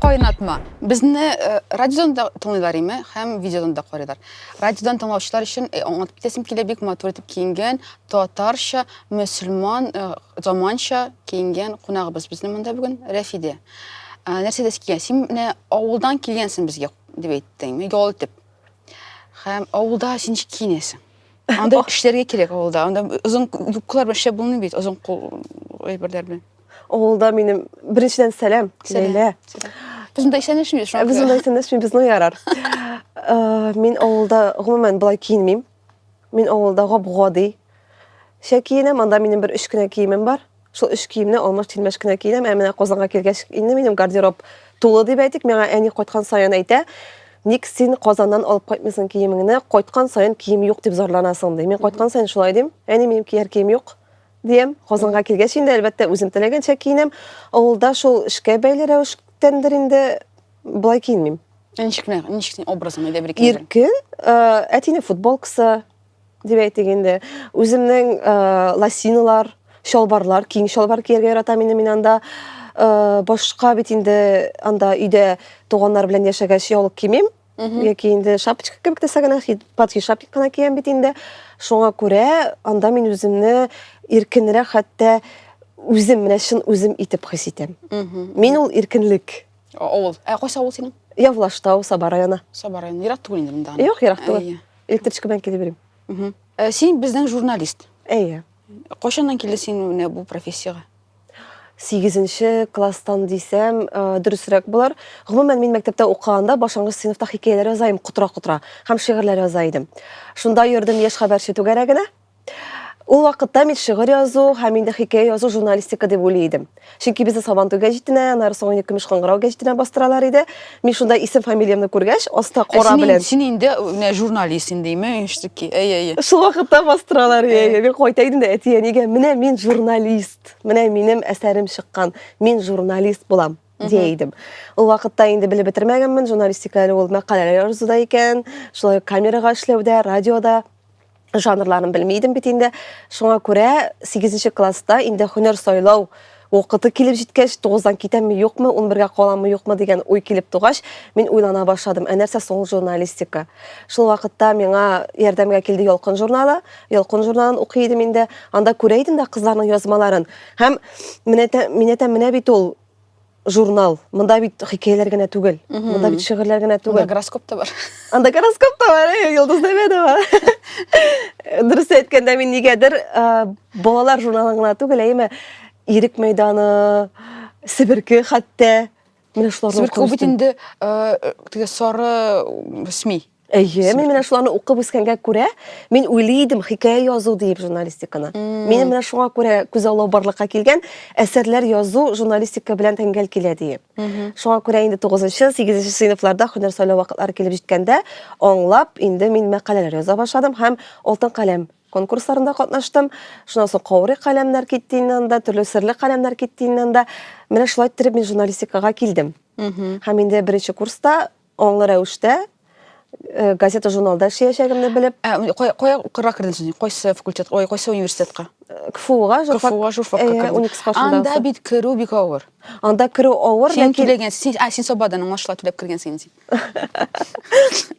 Кайнатма. Безне э, радиодан да тыңлыйлар име һәм видеодан да карыйлар. Радиодан тыңлаучылар өчен э, аңлатып китәсем килә бик матур итеп киенгән татарча, мөселман, э, заманча киенгән кунагыбыз безнең монда бүген Рәфидә. Ә, нәрсә дәс килгән? Син менә авылдан килгәнсең безгә дип әйттең, ял итеп. Һәм авылда син ничек киенәсең? Анда эшләргә кирәк авылда. Анда озын юбкалар белән эшләп булмый бит, озын кул әйберләр белән. Авылда минем беренчедән сәлам, Ләйлә. Без монда исәнләшмибез. Э, без монда исәнләшмибез, ну ярар. Э, мин авылда гомумән болай киенмим. Мин авылда гап-гади. Шә киенәм, анда минем бер өч кенә киемем бар. Шул өч киемне алмаш-тилмәш кенә киенәм. Ә менә Казанга килгәч, инде минем гардероб тулы дип әйтик. Миңа әни кайткан саен әйтә, ник син Казаннан алып кайтмыйсың киемеңне, кайткан саен кием юк дип зарланасың, ди. Мин кайткан саен шулай дим. Әни, минем кияр кием юк, диям. Казанга килгәч инде, әлбәттә, үзем теләгәнчә киенәм. Авылда шул эшкә бәйле рәвештәндер инде болай киенмим. Ә ничек, ничек син образың, әйдә бер икәү. Иркен, әтинең футболкасы, дип әйтик инде. Үземнең э, лосиналар, чалбарлар, киң чалбар кияргә яратам инде мин анда. Э, башка бит инде анда өйдә туганнар белән яшәгәч яулык кимим. Яки инде шапочка кебек нәрсә генә, платье шапик кына киям бит инде. Шуңа күрә анда мин үземне иркенрәк хәтта үзем менә чын үзем итеп хис итәм. Мин ул иркенлек. Авыл. Ә кайсы авыл синең? Явлаштау, Саба районы. Саба районы. Ерак түгел инде монда. Юк, ерак түгел. Электричкадан килеп йөрим. Э, син безнең журналист. Әйе. Кайчаннан килде син менә бу профессиягә? Сигезенче класстан дисәм, э, дөресрәк булар. Гомумән, мин мәктәптә укыганда башлангыч сыйныфта хикәяләр яза идем, котра-котра, һәм шигырьләр яза идем. Шунда йөрдем яшь хәбәрче түгәрәгенә. Ул вакытта мин шигырь язу һәм инде хикәя язу журналистика дип уйлый идем. Чөнки безне Сабантуй гәҗитенә, аннары соң инде Көмеш кыңгырау гәҗитенә бастыралар иде. Мин шунда исем фамилиямне күргәч, аста Ә кора син, белән. син инде менә журналист инде, имею инштуки. Әй, әй. Шул вакытта бастыралар. Әй, әй. Мин кайта идем дә әти-әнигә, менә мин журналист. Менә минем әсәрем чыккан. Мин журналист булам. Дия идем. Ул вакытта инде белеп бетермәгәнмен, журналистика әле ул мәкаләләр язуда икән, шулай ук камерага эшләүдә, радиода. жанрларын белми идем бит инде. Шуңа күрә 8 класста инде һөнәр сайлау вакыты килеп җиткәч, 9-дан китәмме, юкмы, 11-гә каламмы, юкмы дигән уй килеп тугач, мин уйлана башладым. Ә нәрсә соң журналистика? Шул вакытта миңа ярдәмгә килде Ялкын журналы. Ялкын журналын укый идем инде. Анда күрә идем дә кызларның язмаларын. Һәм менә менә менә бит ул журнал. Монда бит хикәяләр генә түгел. Монда бит шигырьләр генә түгел. Монда гороскоп та бар. Анда гороскоп та бар, э, Йолдыз Нәмәдова. Дөрес әйткәндә мин нигәдер э, балалар журналын гына түгел, әйме Ирек мәйданы, Себерке хәтта. Менә шуларны Себерке бит инде э, теге сары СМИ. Әйе, мин менә шуларны укып үскәнгә күрә, мин уйлый идем хикәя язу диеп журналистиканы. Мин менә шуңа күрә күз аллау барлыкка килгән, әсәрләр язу журналистика белән тәңгәл килә диеп. Шуңа күрә инде 9-нчы, 8-нче сыйныфларда һөнәр сайлау вакытлары килеп җиткәндә, аңлап, инде мин мәкаләләр яза башладым һәм Алтын каләм конкурсларында катнаштым. Шуннан соң Каурый каләмнәр китте инде анда, төрле серле каләмнәр китте инде анда. Менә шулай иттереп мин журналистикага килдем. Һәм инде беренче курста Аңлы рәвештә э, газета-журналда эшләячәгемне белеп, Ә, менә кая кая укырга кердең син? Кайсы факультет, ой, кайсы университетка? э, КФУга журфак, КФУга журфакка э, кердең. 12 классында Анда узды. бит керү бик авыр. Анда керү авыр, Син ләкин түләгән, син, а, син Сабадан аңлашыла түләп кергәнсең инде.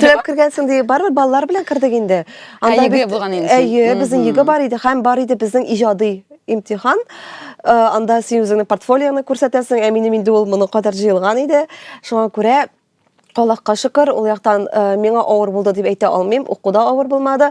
Түләп кергәнсең ди, барыбер балалар белән кердек инде. Ә, ЕГЭ булган инде син. Әйе, безнең ЕГЭ бар иде һәм бар иде безнең иҗади имтихан. Э, анда син үзеңнең портфолионы күрсәтәсең, ә минем инде ул моны кадәр җыелган иде. Шуңа күрә Аллаһка шөкер, ул яктан э, миңа авыр булды дип әйтә алмыйм. Укуда авыр булмады.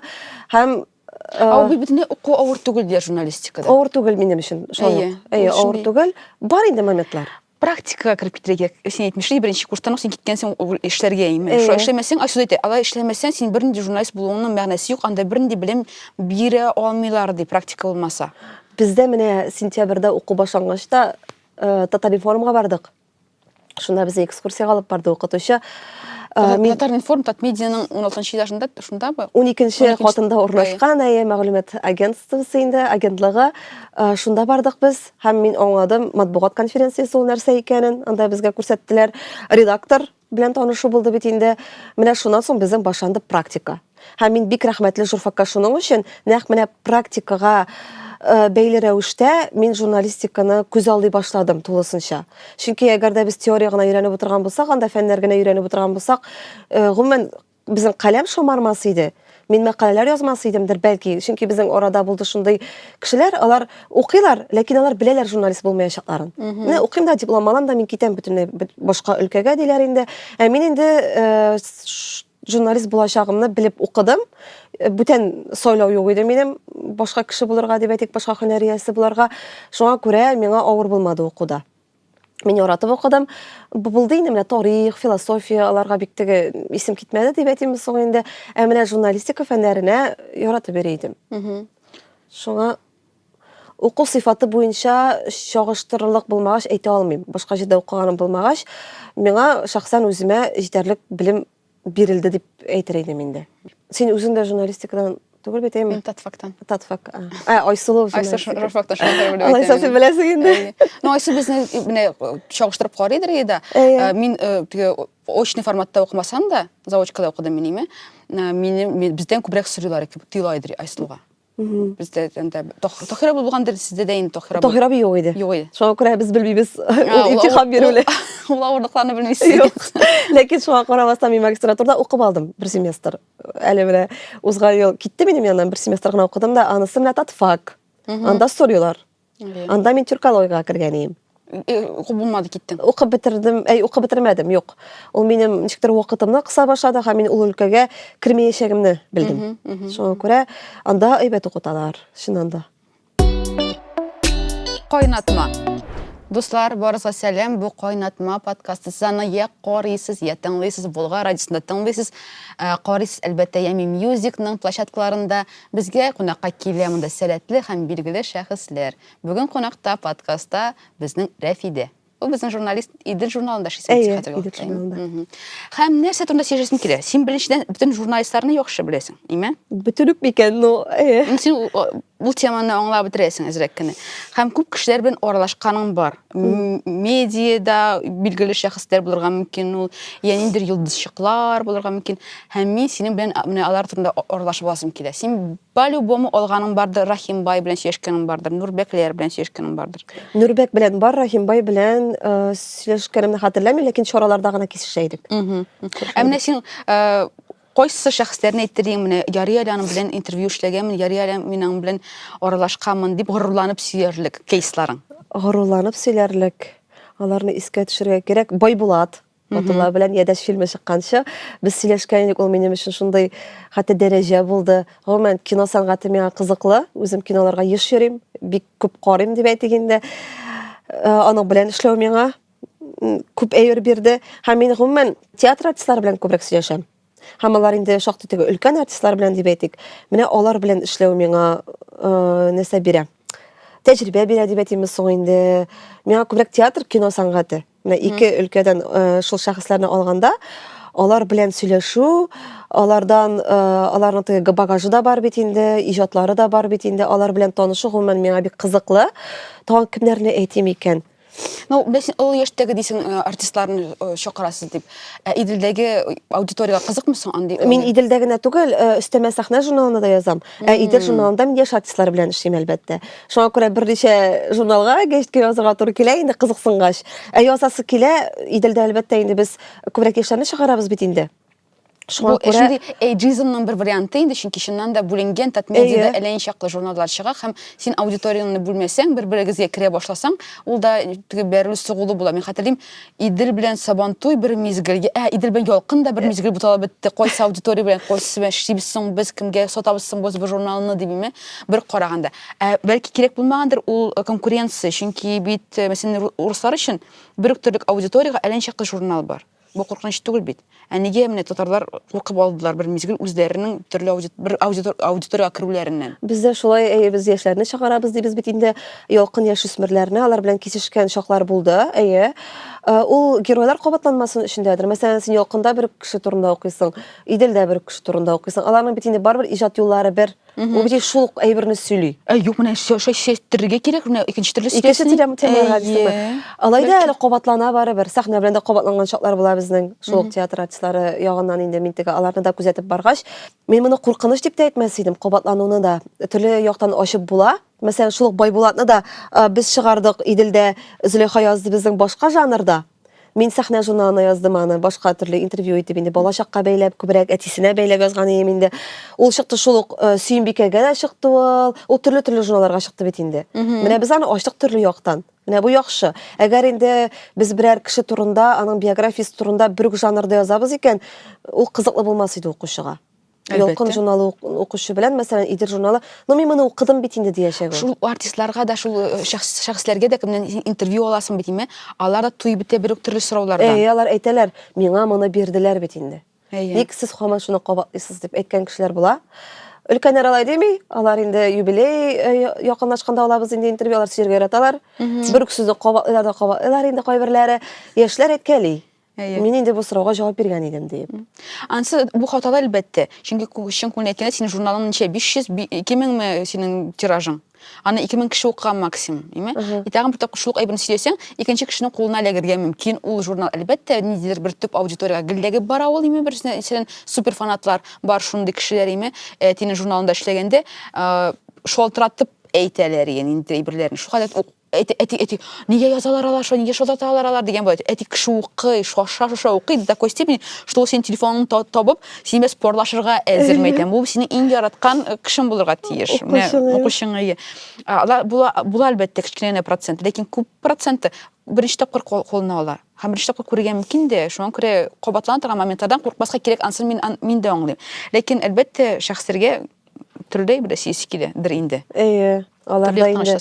Һәм э, Ә ул бит уку авыр түгел диләр журналистикада. Авыр түгел минем өчен. Шулай. Әйе, авыр түгел. Бар инде моментлар. практикага кереп китергә син әйтмешли беренче курстан ук син киткән син ул эшләргә имеш шулай эшләмәсәң айсүз әйтә алай эшләмәсәң син бернинди журналист булуыңның мәгънәсе юк анда бернинди белем бирә алмыйлар ди практика булмаса бездә менә сентябрьдә уку башлангач та э, татаринформга бардык шунда безне экскурсияга алып барды укытучы Э, мин татаринформ татмедианың 16 этажында шундабы 12 катында урнашкан әйе мәгълүмат агентствосы инде агентлыгы э, шунда бардык без Һәм мин аңладым матбугат конференциясе ул нәрсә икәнен, анда безгә күрсәттеләр. Редактор белән танышу булды бит инде. Менә шуннан соң безнең башланды практика. Һәм мин бик рәхмәтле журфакка шуның өчен, нәкъ менә практикага э, бәйле рәвештә мин журналистиканы күз алдый башладым тулысынча. Чөнки әгәр дә без теория гына өйрәнеп утырган булсак, анда фәннәр генә өйрәнеп утырган булсак, э, гомумән Безнең каләм шомармас иде. Мин мәкаләләр язмас идемдер, бәлки, чөнки безнең арада булды шундый кешеләр, алар укыйлар, ләкин алар беләләр журналист булмаячакларын. Менә укыйм да, диплом алам да, мин китәм бөтенләй башка өлкәгә диләр инде. Ә мин инде э, журналист булачагымны белеп укыдым. Э, бүтән сайлау юк иде минем башка кеше булырга дип әйтик, башка һөнәр иясе буларга. Шуңа күрә миңа авыр булмады укуда. Мин яратып укыдым. Бу булды инде менә тарих, философия, аларга бик теге исем китмәде дип әйтимме соң инде. Ә менә журналистика фәннәренә яратып йөри идем. Шуңа уку сыйфаты буенча чагыштырырлык булмагач әйтә алмыйм. Башка җирдә укыганым булмагач, миңа шәхсән үземә җитәрлек белем бирелде дип әйтер идем инде. Син үзең дә журналистикадан түгел бит, әйме? Мин татфактан. Татфак. Ә, Айсылу журналистика. Айсылу журфакта шулай белеп. Алай сәсен беләсең инде. Ну, Айсу безне менә чагыштырып карый дирәгә дә. Э, мин э, теге очный форматта укымасам да, заочкада укыдым мин име. Э, минем бездән күбрәк сорыйлар, тыйлай дир Айсылуга. Бездә анда Тохира булгандыр, сездә дә инде Тохира. Тохира би юк иде. Юк иде. Шуңа күрә без белмибез ул имтихан бирүне. Ул авырлыкларны белмисез. Юк. Ләкин шуңа карамастан мин магистратурада укып алдым бер семестр. Әле менә узган ел китте минем яннан бер семестр гына укыдым да, анысы менә татфак. Анда сорыйлар. Анда мин тюркологиягә кергән идем. Укып булмады, киттем. Укып бетердем, әй, укып бетермәдем, юк. Ул минем ничектер вакытымны кыса башлады һәм мин ул өлкәгә кермәячәгемне белдем. Шуңа күрә анда әйбәт укыталар, чыннан да. Кайнатма. Дуслар, барыгызга сәлам. Бу Кайнатма подкасты. Сез аны я карыйсыз, я тыңлыйсыз, Болгар радиосында тыңлыйсыз. Э, карыйсыз, әлбәттә, Ями Мьюзикның площадкаларында. Безгә кунакка килә монда сәләтле һәм билгеле шәхесләр. Бүген кунакта подкастта безнең Рәфидә. Ул безнең журналист Идел журналында эшли син Әйе, хәзерге Идел вакытта. имя. журналында. Мгм. Һәм нәрсә турында сөйләшәсең килә? Син беренчедән бөтен журналистларны яхшы беләсең, име? Бөтен үк микән, ну, әйе. М, Син ул- ул теманы аңлап бетерәсең әзрәк кенә. Һәм күп кешеләр белән аралашканың бар. медиада билгеле шәхесләр булырга мөмкин ул я ниндидер йолдызчыклар булырга мөмкин һәм мин синең белән менә алар турында аралашып аласым килә син по любому алганың бардыр рахимбай белән сөйләшкәнең бардыр нурбәкләр белән сөйләшкәнең бардыр нурбәк белән бар рахимбай белән сөйләшкәнемне хәтерләмим ләкин чараларда гына кисешә идек ә менә син Кайсы шәхесләрне әйтте диң, менә ярый әле аның белән интервью эшләгәнмен, ярый әле мин аның белән аралашканмын дип горурланып сөярлек кейсларың? Горурланып сөйләрлек, аларны искә төшерергә кирәк, Байбулат Батулла белән Ядәш фильмы чыкканчы без сөйләшкән идек, ул минем өчен шундый хәтта дәрәҗә булды. Гомумән, кино сәнгате миңа кызыклы, үзем киноларга еш йөрим, бик күп карыйм дип әйтик инде. Э, аның белән эшләү миңа күп әйбер бирде. Һәм мин гомумән театр артистлары белән күбрәк сөйләшәм. Һәм алар инде шактый теге өлкән артистлар белән дип әйтик. Менә алар белән эшләү миңа э, нәрсә бирә? Тәҗрибә бирә дип әйтимме соң инде. Миңа күбрәк театр, кино сәнгате. Менә ике өлкәдән э, шул шәхесләрне алганда, алар белән сөйләшү, алардан э, аларның теге багажы да бар бит инде, иҗатлары да бар бит инде. Алар белән танышу гомумән миңа бик кызыклы. Тагын кемнәрне әйтим икән? Ну, беләсең, олы яшьтәге дисең, э, артистларны э, чакырасыз дип. Ә Иделдәге аудиториягә кызыкмы соң андый? Мин Иделдә генә түгел, э, өстәмә сәхнә журналына да язам. Ә Идел журналында мин яшь артистлар белән эшлим, әлбәттә. Шуңа күрә берничә журналга гәҗиткә язырга туры килә инде кызыксынгач. Ә язасы килә, Иделдә, әлбәттә, инде без күбрәк яшьләрне чыгарабыз бит инде. Шуңа Бу күрә... шундый эйджизмның бер варианты инде, чөнки чыннан да бүленгән татмедиада әллә чаклы журналлар чыга һәм син аудиторияңне бүлмәсәң, бер-берегезгә керә башласаң, ул да теге бәрелү сугулы була. Мин хәтерлим, Идел белән Сабантуй бер мизгел, ә Идел белән Ялкын да бер мизгел буталып бетте. Кайсы аудитория белән кайсы белән эшлибез соң без, кемгә сатабыз соң без бу журналны димме? Бер караганда. Ә бәлки кирәк булмагандыр ул э, конкуренция, чөнки бит, э, мәсәлән, руслар өчен бер үк төрлек аудиториягә әллә чаклы журнал бар. Бу куркыныч түгел бит. Ә нигә менә татарлар куркып алдылар бер мизгел үзләренең төрле аудит, бер аудитор, аудиториягә керүләреннән? Без дә шулай, әйе, без яшьләрне чыгарабыз дибез бит инде, ялкын яшь үсмерләрне, алар белән кисешкән чаклар булды, әйе. Э, ул геройлар кабатланмасын өчендәдер. Мәсәлән, син ялкында бер кеше турында укыйсың, Иделдә бер кеше турында укыйсың. Аларның бит инде барыбер иҗат юллары бер. Ул бит шул ук әйберне сөйли. Ә юк, менә шушы шәйттерергә кирәк, менә икенче төрле Икенче телем темага дисеңме? Алай да әле кабатлана барыбер. Сәхнә белән дә кабатланган чаклар була безнең шул ук театр артистлары ягыннан инде мин теге аларны да күзәтеп баргач, мин моны куркыныч дип тә әйтмәс идем. Кабатлануны да төрле яктан ачып була. Мәсәлән, шул ук Байбулатны да без чыгардык Иделдә Зөләйха язды безнең башка жанрда. Мин сәхнә журналына яздым аны, башка төрле интервью итеп инде балачакка бәйләп, күбрәк әтисенә бәйләп язган идем инде. Ул чыкты шул ук э, Сөембикәгә дә чыкты ул. Ул төрле-төрле журналларга чыкты бит инде. Менә без аны ачтык төрле яктан. Менә бу яхшы. Әгәр инде без берәр кеше турында, аның биографиясе турында бер үк жанрда язабыз икән, ул кызыклы булмас иде укучыга. Ялкын журналы укучы белән, мәсәлән, Идер журналы, ну мин моны укыдым бит инде диячәк. Шул артистларга да, шул э, шәхесләргә дә кемнән интервью аласың бит име? Алар да туй бетә бер үк төрле сораулардан. Әйе, алар әйтәләр, миңа моны бирделәр бит инде. Ник сез хаман шуны кабатлыйсыз дип әйткән кешеләр була. Өлкәннәр алай дими, алар инде юбилей э, якынлашканда алабыз инде интервью, алар сөергә яраталар. Бер үк сүзне кабатлыйлар да кабатлыйлар инде кайберләре. Яшьләр әйткәли. Әйе. Мин инде бу сорауга җавап биргән идем диеп. Ансы бу хаталы әлбәттә. Чөнки чын күңелдән әйткәндә, синең журналың ничә? 500, 2000 ме синең тиражың? Аны 2000 кеше укыган максимум, име? И тагын бер тапкыр шул әйберне сөйләсәң, икенче кешенең кулына эләгергә мөмкин ул журнал. Әлбәттә, ниндидер бер төп аудиториягә гелдәгеп бара ул, име? Берсенә исән супер фанатлар бар шундый кешеләр, име? Әтинең журналында эшләгәндә, шалтыратып әйтәләр, ягъни, әйберләрне. Шул хәлдә Әти, әти, әти, нигә язалар алар шулай, нигә шулай аталар алар дигән булат. Әти кеше укый, шаша, шаша укый, до такой степени, что ул синең телефоныңны табып, синең белән спорлашырга әзер мәйтәм. Бу синең иң яраткан э, кешең булырга тиеш. Менә укучың ие. Алар була, була әлбәттә кечкенә генә процент, ләкин күп проценты беренче тапкыр кулына ала. Һәм беренче тапкыр күрергә мөмкин дә, шуңа күрә кабатлана торган моментлардан куркмаска кирәк, ансын мин, мин дә аңлыйм. Ләкин әлбәттә шәхесләргә Төрдәй бит сиськи дә, бер инде. Әйе. Алар да инде.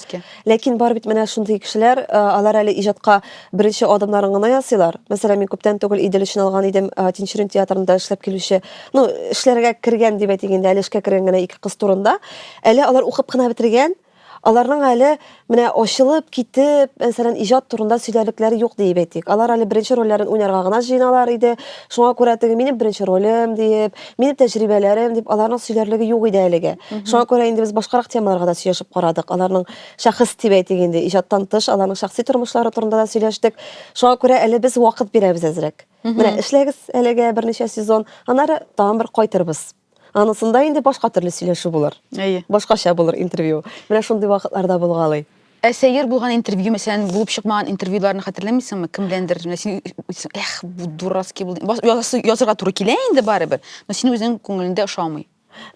Ләкин бар бит менә шундый кешеләр, алар әле иҗатка беренче адымнарын гына ясыйлар. Мәсәлән, мин күптән түгел Идел өчен алган идем, Тинчурин театрында эшләп килүче, ну, эшләргә кергән дип әйтик инде, әле эшкә кергән генә ике кыз турында. Әле алар укып кына бетергән, Аларның әле менә ачылып, китеп, мәсәлән, иҗат турында сөйләрлекләре юк диеп әйтик. Алар әле беренче рольләрен уйнарга гына җыеналар иде. Шуңа күрә теге минем беренче ролем диеп, минем тәҗрибәләрем дип аларның сөйләрлеге юк иде әлегә. Шуңа күрә инде без башкарак темаларга да сөйләшеп карадык. Аларның шәхес дип әйтик инде, иҗаттан тыш аларның шәхси тормышлары турында да сөйләштек. Шуңа күрә әле без вакыт бирәбез әзрәк. Менә эшләгез әлегә берничә сезон, аннары тагын бер кайтырбыз. Анысында инде башка төрле сөйләшү булыр. Әйе. Башкача булыр интервью. Менә шундый вакытларда булгалый. Ә сәер булган интервью, мәсәлән, булып чыкмаган интервьюларны хәтерләмисеңме? Кем беләндер, менә син үйтсең, эх, бу дурацкий булды. Бас- язасы- Язырга туры килә инде барыбер, но син үзең күңелендә ошамый.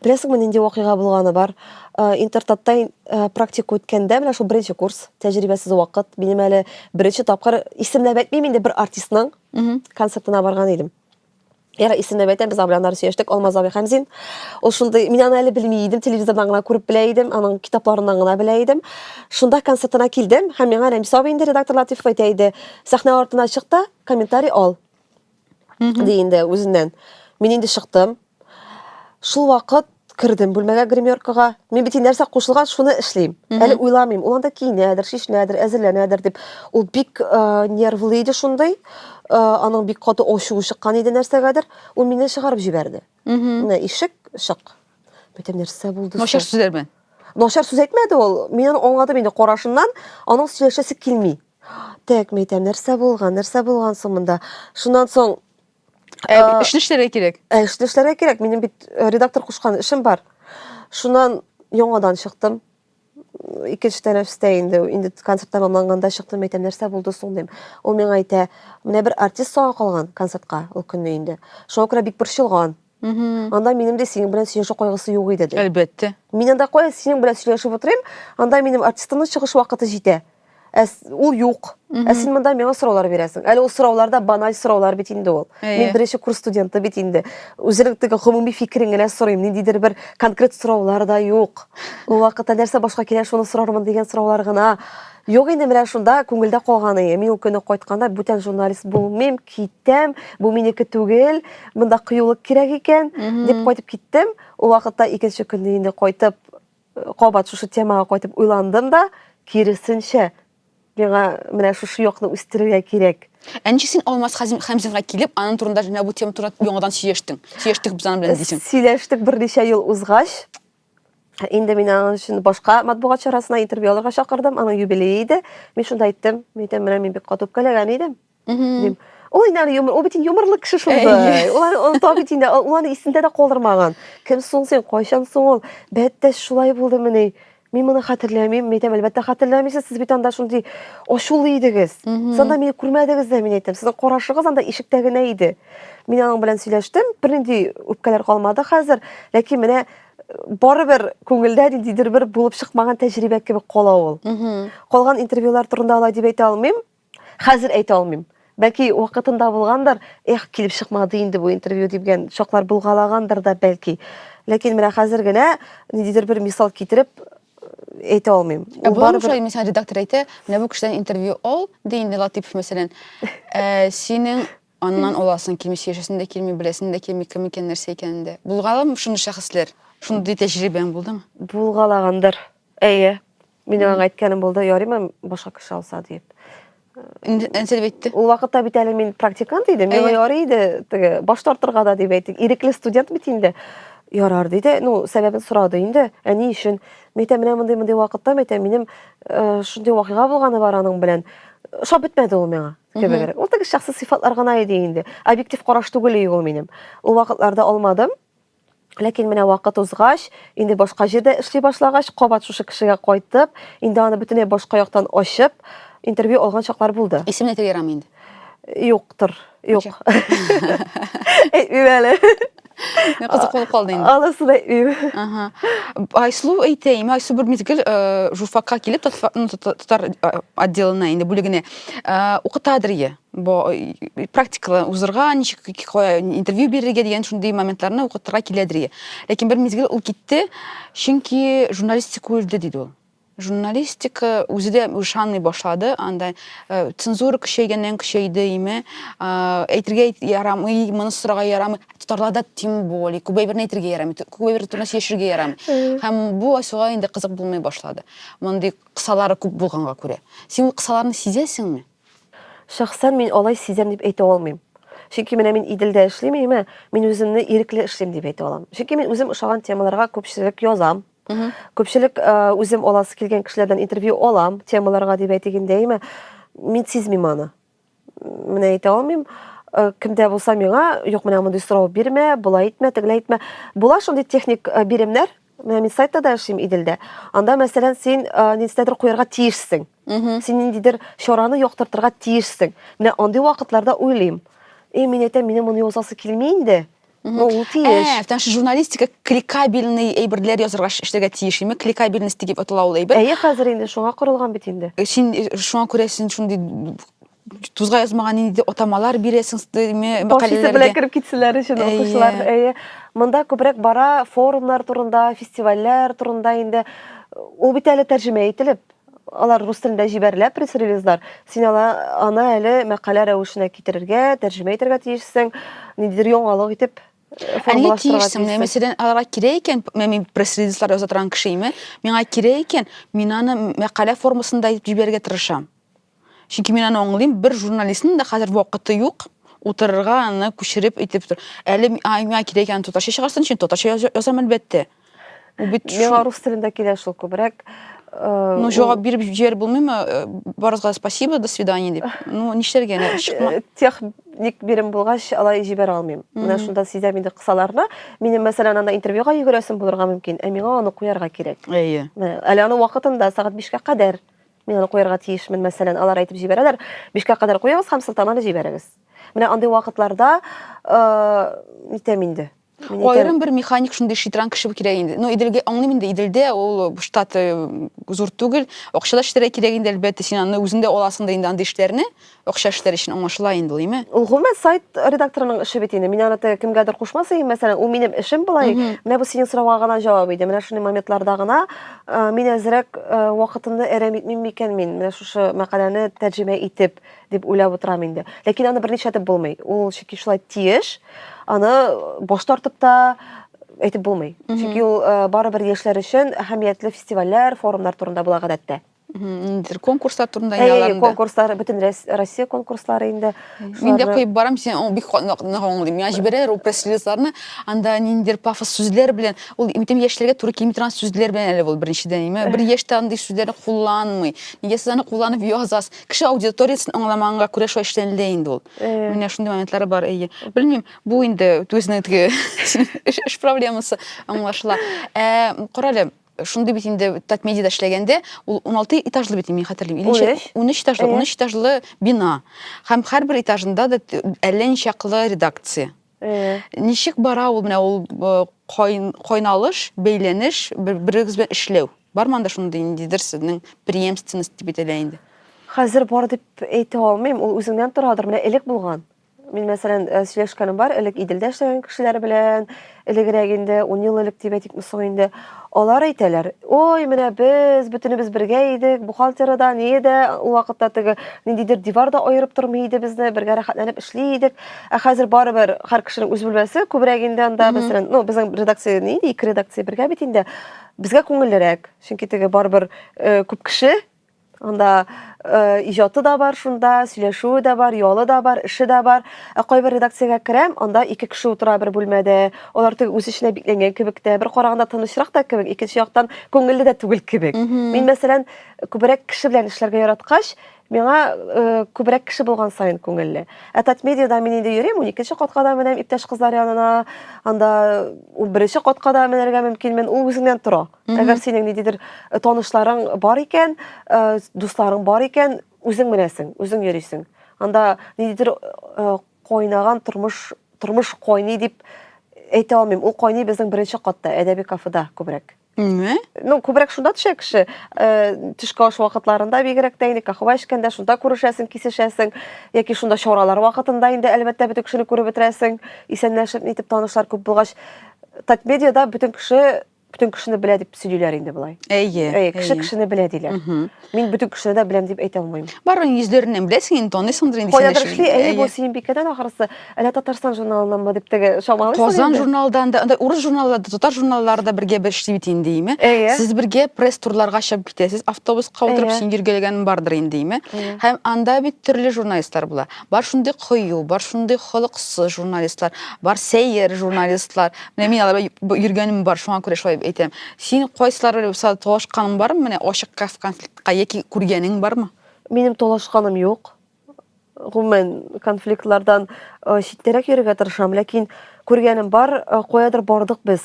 Беләсеңме, нинди вакыйга булганы бар? Э, Интертатта ин- э, практика үткәндә, менә шул беренче курс, тәҗрибәсез вакыт, минем әле беренче тапкыр исемләп әйтмим инде бер артистның Мгм. концертына барган идем. Яра исемнәп әйтәм, без белән ары сөйләштек, Алмаз абый Хәмзин. Ул шундый, мин аны әле белми идем, телевизордан гына күреп белә идем, аның китапларыннан гына белә идем. Шунда концертына килдем һәм миңа Рәмис абый инде редактор Латифов әйтә иде, сәхнә артына чык та, комментарий ал. Ди инде үзеннән. Мин инде чыктым. Шул вакыт кердем бүлмәгә гримеркага мин бит нәрсә кушылган шуны эшлим әле уйламыйм ул анда киенәдер чишенәдер әзерләнәдер дип ул бик э, нервлы иде шундый э, аның бик каты ачуы чыккан иде нәрсәгәдер ул мине чыгарып җибәрде менә ишек чык бөтен нәрсә булды начар сүзләр белән начар сүз әйтмәде ул мин аны аңладым инде карашыннан аның сөйләшәсе килми так мәйтәм нәрсә булган нәрсә булган соң монда шуннан соң Ә, ә, эшне эшләргә кирәк. Ә эшне эшләргә кирәк. Минем бит э, редактор кушкан эшем бар. Шуннан яңадан чыктым. Икенче тәнәфестә инде, инде концерт тәмамланганда чыктым, әйтәм, нәрсә булды соң, дим. Ул миңа әйтә, менә бер артист соңга калган концертка ул көнне инде. Шуңа күрә бик борчылган. Анда минем дә синең белән сөйләшү кайгысы юк иде. Әлбәттә. Мин анда кая синең белән сөйләшеп утырыйм, анда минем артистымның чыгыш вакыты җитә. Ә ул юк. Ә син монда миңа сораулар бирәсең. Әле ул сораулар да баналь сораулар бит инде ул. Мин беренче курс студенты бит инде. Үзенең теге гомуми фикерен генә сорыйм. Ниндидер бер конкрет сораулар да юк. Ул вакытта нәрсә башка килә, шуны сорармын дигән сораулар гына. Юк инде менә шунда күңелдә калган ие. Мин ул көне кайтканда бүтән журналист булмыйм, китәм, бу минеке түгел, монда кыюлык кирәк икән, дип кайтып киттем. Ул вакытта икенче көнне инде кайтып, э, кабат шушы темага кайтып уйландым да, киресенчә, миңа менә шушы якны үстерергә кирәк. Ә ничек син Алмаз Хәзим- Хәмзинга килеп, аның турында менә бу тема турында яңадан сөйләштең? Сөйләштек без аның белән дисең. Сөйләштек берничә ел узгач, Инде мин аның өчен башка матбугат чарасына интервью алырга чакырдым, аның юбилее иде. Мин шунда әйттем, мин әйтәм, менә мин бик каты үпкәләгән идем. Дим. Ул инде әле юмор, ул бит юморлы кеше шул бай. Ул ул та бит инде ул аны исендә дә калдырмаган. Кем соң син, кайчан соң ул? Бәттәш шулай булды мени. Мин моны хәтерләмим, мин әйтәм, әлбәттә хәтерләмисез, сез бит анда шундый ачулы идегез. Санда мине күрмәдегез дә, мин әйтәм, сезнең карашыгыз анда ишектә генә иде. Мин аның белән сөйләштем, бернинди үпкәләр калмады хәзер, ләкин менә э, барыбер күңелдә ниндидер бер булып чыкмаган тәҗрибә кебек кала ул. Калган интервьюлар турында алай дип әйтә алмыйм, хәзер әйтә алмыйм. Бәлки вакытында булгандыр, эх, килеп чыкмады инде бу интервью дигән чаклар булгалагандыр да бәлки. Ләкин менә хәзер генә ниндидер бер мисал китереп э, әйтә алмыйм. Ә Ул буламы барыбер- шулай, мисәлән, редактор әйтә, менә бу кешедән интервью ал, ди инде Латыпов, мәсәлән, ә, синең Аннан аласың килмичә яшәсең дә килми, беләсең дә килми, кем икән, нәрсә икәнен дә. Булгаламы шундый шәхесләр? Шундый тәҗрибәң булдымы? Булгалагандыр. Әйе. Минем аңа әйткәнем булды, ярыймы башка кеше алса диеп. Нәрсә дип әйтте? Ул вакытта бит әле мин практикант идем, миңа ярый иде теге баш тартырга да дип әйтик. Ирекле студент бит инде. Ярар диде. Ну, сәбәбен сорады инде. Ә ни өчен? Мәйтә менә мондый мондый вакытта мәйтә минем э, шундый вакыйга булганы бар аның белән. Ошап бетмәде ул миңа. кебегрәк. Ул теге шәхси сыйфатлар гына иде инде. Объектив караш түгел иде ул минем. Ул вакытларда алмадым. Ләкин менә вакыт узгач, инде башка җирдә эшли башлагач, кабат шушы кешегә кайтып, инде аны бөтенләй башка яктан ачып, интервью алган чаклар булды. Исем әйтергә ярамый инде. Юктыр. Юк. Әйтмим әле. Мин кызык булып калды инде. Алысы да ир. Ага. Айсылу әйтәйме, Айсу бер мизгел э, журфакка килеп татфа- ну, тата- татар э, отделына инде бүлегенә э, укытадыр е. Бо э, практикалар узырга, ничек ки- кая интервью бирергә дигән шундый моментларны укытырга киләдер е. Ләкин бер мизгел ул китте, чөнки журналистика үлде диде ул. Журналистика үзе дә ышанмый башлады, анда цензура көчәйгәннән көчәйде име, әйтергә ярамый, моны сорарга ярамый. Татарларда тем более, күп әйберне әйтергә ярамый, күп әйбер турында сөйләшергә ярамый. Һәм бу Айсуга инде кызык булмый башлады. Мондый кысалары күп булганга күрә. Син ул кысаларны сизәсеңме? Шәхсән мин алай сизәм дип әйтә алмыйм. Чөнки менә мин Иделдә эшлим, әйме, мин үземне ирекле эшлим дип әйтә алам. Чөнки мин үзем ошаган темаларга күпчелек язам. Күпчелек үзем аласы килгән кешеләрдән интервью алам, темаларга дип әйтегендәйме, мин сизмим аны. Менә әйтә алмыйм. Э, кемдә булса миңа, юк, менә мондый сорау бирмә, болай итмә, тегеләй итмә. Була шундый техник э, биремнәр, менә мин сайтта да эшлим Иделдә. Анда, мәсәлән, син э, ниндидер куярга тиешсең. Син ниндидер чараны яктыртырга тиешсең. Менә андый вакытларда уйлыйм. И, мин әйтәм, минем моны язасы килми инде. Mhm. Ул тиеш. Ә, потому что журналистика кликабельный әйберләр язырга эшләргә тиеш, име? Кликабельность дип атала ул әйбер. Әйе, хәзер инде шуңа корылган бит инде. Э, син э, шуңа күрә син шундый тузга язмаган инде атамалар бирәсең мәкаләләргә. Башысы белән кереп китсәләр өчен укучылар. Әйе. Монда күбрәк бара форумнар турында, фестивальләр турында инде. Ул бит әле тәрҗемә ителеп. Алар рус телендә җибәрелә пресс-релизлар. Син ала, аны әле мәкалә рәвешенә китерергә, тәрҗемә итәргә тиешсең, ниндидер яңалык итеп э, Әлегә тиешсең. Менә мәсәлән, аларга кирәк икән, мин пресс-релизлар яза торган кеше име, миңа кирәк икән, мин аны мәкалә формасында итеп җибәрергә тырышам. Чөнки мин аны аңлыйм, бер журналистның да хәзер вакыты юк утырырга аны күчереп итеп. Әле миңа кирәк икән татарча чыгарсын өчен татарча язам әлбәттә. Ул бит миңа рус телендә килә шул күбрәк. Э, ну, җавап биреп җибәреп булмыймы? Э, Барыгызга спасибо, до свидания дип. Ну, нишләргә? Э, техник бирем булгач, алай җибәрә алмыйм. Менә шунда сизәм инде кысаларны. Минем, мәсәлән, анда интервьюга йөгерәсем булырга мөмкин, ә миңа аны куярга кирәк. Әйе. Әле аны вакытында сәгать 5-кә кадәр. Мин аны куярга тиешмен, мәсәлән, алар әйтеп җибәрәләр, бишкә кадәр куегыз һәм сылтаманы җибәрегез. Менә андый вакытларда э, нитәм инде. Мин әйтәм, Аерым бер механик шундый шитран кеше кирәк инде. Ну, Иделгә аңлыйм инде, Иделдә ул штат э, зур түгел. Акча да шитрәк кирәк инде, әлбәттә, син аны үзең дә аласың да инде андый эшләрне. Акча эшләре өчен аңлашыла инде ул, име? Ул гомумән сайт редакторының эше бит инде. Мин аны теге кемгәдер кушмас идем, мәсәлән, ул минем эшем болай. Менә бу синең сорауга гына җавап иде. Менә шундый моментларда гына э, мин әзрәк э, вакытымны әрәм итмим микән мин менә шушы мәкаләне тәрҗемә итеп дип уйлап утырам инде. Ләкин аны берничә итеп булмый. Ул чөнки шулай тиеш. Аны баш тартып та әйтеп булмый. Чөнки ул э, барыбер яшьләр өчен әһәмиятле фестивальләр, форумнар турында була гадәттә. ниндидер конкурслар турында әйе әйе конкурслар бөтен россия конкурслары инде мин дә куеп барам сен бик нык аңлыйм миңа җибәрәләр ул пресс релизларны анда ниндидер пафос сүзләр белән ул бөтен яшьләргә туры килми торган сүзләр белән әле ул беренчедән бер яшь тә андый сүзләрне кулланмый нигә сез аны кулланып язасыз кеше аудиториясен аңламаганга күрә шулай эшләнелә инде ул менә шундый моментлары бар әйе белмим бу инде үзенең теге эш проблемасы аңлашыла ә карале шундый бит инде татмедиада эшләгәндә ул 16 этажлы бит мин хәтерлим 13 13 этажлы 13 этажлы бина һәм һәрбер этажында да әллә ничаклы редакция ничек бара ул менә ул кайналыш бәйләнеш берегез белән эшләү бармы анда шундый ниндидер сезнең преемственность дип әйтелә инде хәзер бар дип әйтә алмыйм ул үзеңнән торадыр менә элек булган Мин, мәсәлән, э, сөйләшкәнем бар, элек Иделдә эшләгән кешеләр белән, элегрәк инде, 10 ел элек дип әйтик, соң инде. Алар әйтәләр, ой, менә без, бөтенебез бергә идек, бухгалтера да, ние дә, ул вакытта теге ниндидер дивар да аерып тормый иде безне, бергә рәхәтләнеп эшли идек. Ә хәзер барыбер һәр кешенең үз бүлмәсе, күбрәк инде анда, мәсәлән, ну, безнең редакция ни иде, ике редакция бергә бит инде. Безгә күңеллерәк, чөнки теге барыбер э, күп кеше, Анда э, иҗаты да бар шунда, сөйләшүе дә бар, ялы да бар, эше дә бар. Ә кайбер редакциягә керәм, анда ике кеше утыра бер бүлмәдә. Алар теге үз эченә бикләнгән кебек тә, бер караганда тынычрак та кебек, икенче яктан күңелле дә түгел кебек. Мин, мәсәлән, күбрәк кеше белән эшләргә яраткач, миңа э, күбрәк кеше булган саен күңелле. Ә Татмедиада мин инде йөрим, уникенче катка да менәм иптәш кызлар янына, анда унберенче катка да менәргә мөмкинмен, ул үзеңнән тора. Әгәр синең ниндидер э, танышларың бар икән, э, дусларың бар икән, үзең менәсең, үзең йөрисең. Анда ниндидер э, кайнаган тормыш, тормыш кайный дип әйтә алмыйм. Ул кайный безнең беренче катта, әдәби кафеда күбрәк. Ме? Ну, күбрәк шунда төшә кеше. Э, төшке аш вакытларында бигрәк тә инде кахва эчкәндә шунда күрешәсең, кисешәсең. Яки шунда чаралар вакытында инде әлбәттә бөтен кешене күреп бетерәсең. Исәнләшеп, нитеп танышлар күп булгач, Татмедиада бөтен кеше бөтен кешене белә дип сөйлиләр инде болай. Әйе. Әйе, кеше кешене белә диләр. Мин бөтен кешене дә беләм дип әйтә алмыйм. Бар ул йөзләреннән беләсең инде, таныйсыңдыр инде. Кайдадыр эшли, әйе, бу Сөембикәдән ахрысы, әллә Татарстан журналынанмы дип теге чамалыйсың. Казан журналдан да, анда урыс журналларда, татар журналлары да бергә бер эшли бит инде, име? Сез бергә пресс-турларга чыгып китәсез, автобуска утырып син йөргәләгәнең бардыр инде, име? Һәм анда бит төрле журналистлар була. Бар шундый кыю, бар шундый холыксыз журналистлар, бар сәер журналистлар. Менә мин аларда йөргәнем бар, шуңа күрә шулай әйтәм. Син кайсылары булса талашканың бармы? Менә ачык конфликтка яки күргәнең бармы? Минем талашканым юк. Гомумән, конфликтлардан читтәрәк йөрергә тырышам, ләкин күргәнем бар, каядыр бардык без.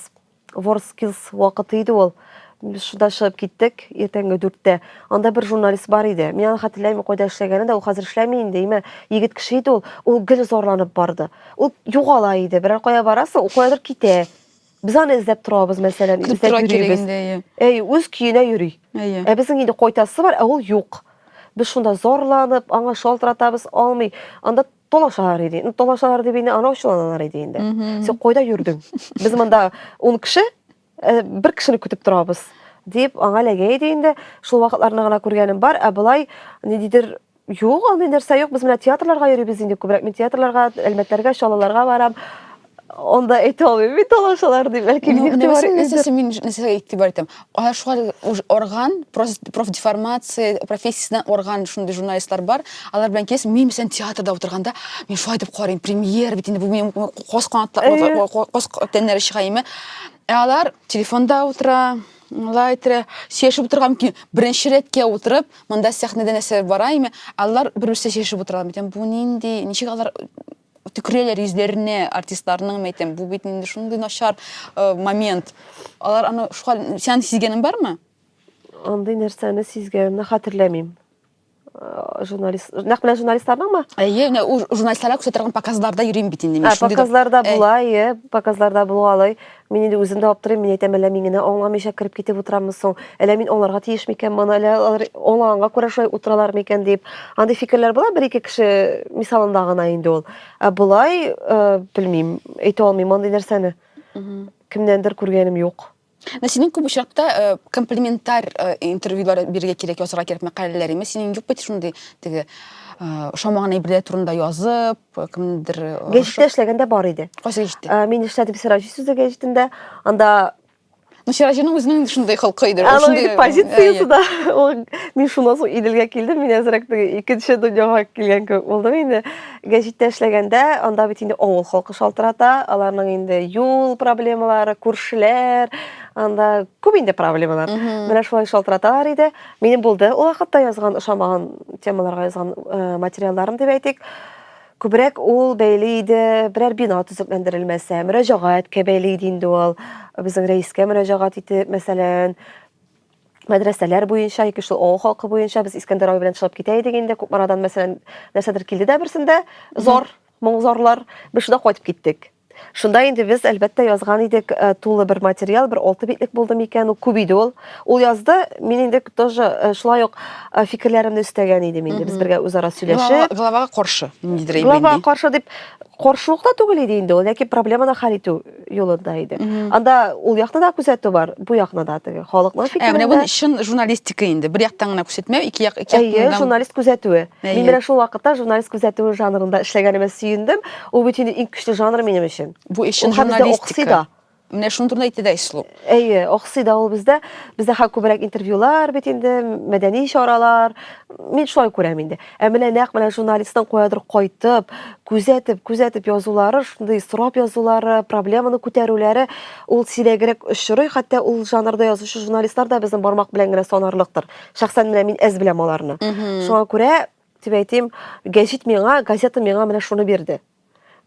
Ворскилс вакыты иде ул. Без шунда чыгып киттек, иртәнге дүрттә. Анда бер журналист бар иде. Мин аны хәтерләмим, кайда эшләгәнен дә, ул хәзер эшләми инде, әмма егет кеше иде ул. Ул гел зарланып барды. Ул югала иде, берәр кая барасы, ул каядыр китә. Без аны эзләп торабыз, мәсәлән, Көтеп эзләп тора кирәк йөрибез. инде, әйе. Әй, үз көенә йөри. Әйе. Ә безнең инде кайтасы бар, ә ул юк. Без шунда зарланып, аңа шалтыратабыз, алмый. Анда Талашалар иде. Ну, талашалар дип инде анау чыланалар иде инде. Сен кайда йөрдең? Без монда 10 кеше, э, бер кешене көтеп торабыз дип аңа ләгә иде инде. Шул вакытларны гына күргәнем бар, ә болай ниндидер юк, андый нәрсә юк. Без менә театрларга йөрибез инде күбрәк. Мин театрларга, әлмәтләргә, чалаларга барам. Анда әйтә алмыйм мин талашалар дип, бәлки Ну, игътибар нәбәсен итмидер. нәрсәсе мин нәрсәгә игътибар итәм. Алар шулай уж орган, прос- профдеформация профессиясеннән орган шундый журналистлар бар. Алар белән килеш мин мәсәлән театрда утырганда, мин шулай дип карыйм, премьер бит инде бу минем кос канатлар, Әйе. кос тәннәре чыга име. Ә алар телефонда утыра, алай тирә сөйләшеп утырган мөмкин. Беренче рәткә утырып, монда сәхнәдә нәрсә бара име, алар бер-берсе сөйләшеп утыралар. Мин әйтәм, бу нинди, ничек алар төкерәләр йөзләренә артистларның мен әйтәм бу бит инде шундый начар э, момент алар аны шуга сән сизгәнең бармы андый нәрсәне сизгәнемне хәтерләмим э, журналист нәкъ менә журналистларныңмы әйе менә ул журналистларга күрсәтә торган показларда йөрим бит инде мин ә, шундый показларда була әйе показларда булгалый Мин инде үзем дә аптырыйм, мин әйтәм, әллә мин генә аңламыйча кереп китеп утыраммы соң? Әллә мин аңларга тиеш микән моны? Әллә алар аңлаганга күрә шулай утыралар микән дип. Андый фикерләр була, бер-ике кеше мисалында гына инде ул. Ә болай, э, белмим, әйтә алмыйм андый нәрсәне. Кемнәндер күргәнем юк. Менә синең күп очракта э, комплементар э, интервьюлар бирергә кирәк, язырга кирәк мәкаләләр. Әмма синең юк бит шундый теге э, ошамаган әйберләр турында язып, кемнедер гәҗиттә эшләгәндә бар иде кайсы гәҗиттә мин эшләдем сираҗи сүзе гәҗитендә анда ну сираҗиның үзенең шундый холкы иде шундый позициясе да ул мин шуннан соң иделгә килдем мин әзрәк икенче дөньяга килгән кебек булдым инде гәҗиттә эшләгәндә анда бит инде авыл халкы шалтырата аларның инде юл проблемалары күршеләр анда күп инде проблемалар менә шулай шалтыраталар иде Минем булды ул вакытта язган ошамаган темаларга язган э, материалларым дип әйтик. Күбрәк ул бәйле иде берәр бина төзекләндерелмәсә, мөрәҗәгатькә бәйле иде инде ул. Безнең рәискә мөрәҗәгать итеп, мәсәлән, мәдрәсәләр буенча, яки шул авыл халкы буенча без Искәндәр абый белән чыгып китә идек инде. Кукмарадан мәсәлән, нәрсәдер килде дә берсендә зор, моңзорлар. Без шунда кайтып киттек. Шунда инде без, әлбәттә, язган идек э, тулы бер материал, бер алты битлек булды микән, ул күп иде ул. Ул язды, мин инде тоже э, шулай ук э, фикерләремне өстәгән идем инде, без бергә үзара сөйләшеп. Главага каршы, ниндидер Глава каршы дип каршылык та түгел иде инде ул, ләкин проблеманы хәл итү юлында иде. Анда ул якны да күзәтү бар, бу якны да теге халыкның фикерендә. Ә менә бу чын журналистика инде. Бер яктан гына күрсәтмәү, ике як ике яктан. Әйе, журналист күзәтүе. Мин менә шул вакытта журналист күзәтүе жанрында эшләгәнемә сөендем. Ул бит инде иң көчле жанр минем өчен. Бу эшен журналистика. Менә шуны турында әйтте дә Ислу. Әйе, охси да ул бездә. Бездә хак күбрәк интервьюлар бит инде, мәдәни чаралар. Мин шулай күрәм инде. Ә менә нәкъ менә журналистның куядыр кайтып, күзәтеп, күзәтеп язулары, шундый сорап язулары, проблеманы күтәрүләре ул сирәгрәк очрый, хәтта ул жанрда язучы журналистлар да безнең бармак белән генә санарлыктыр. Шәхсән менә мин әз беләм аларны. Шуңа күрә Дип әйтим, гәҗит миңа, газета миңа менә шуны бирде.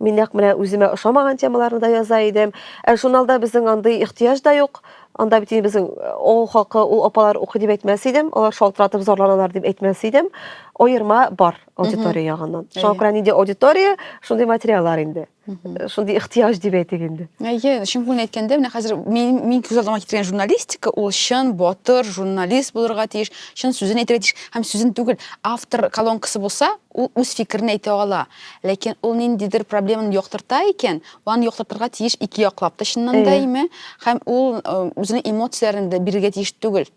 Мин нәкъ менә үземә ошамаган темаларны да яза идем. Ә журналда безнең андый ихтыяҗ да юк. Анда бит безнең ул хакы, ул апалар укый дип әйтмәс идем, алар шалтыратып зарланалар дип әйтмәс идем. Аерма бар аудитория ягыннан. Шуңа күрә нинди аудитория, шундый материаллар инде. шундый ихтыяҗ дип әйтик инде әйе чын күңелен әйткәндә менә хәзер мин мин күз алдыма китергән журналистика ул чын батыр журналист булырга тиеш чын сүзен әйтергә тиеш һәм сүзен түгел автор колонкасы булса ул үз фикерен әйтә ала ләкин ул ниндидер проблеманы яктырта икән аны яктыртырга тиеш ике яклап та чыннан да әйме һәм ул э, үзенең эмоцияләрен дә бирергә тиеш түгел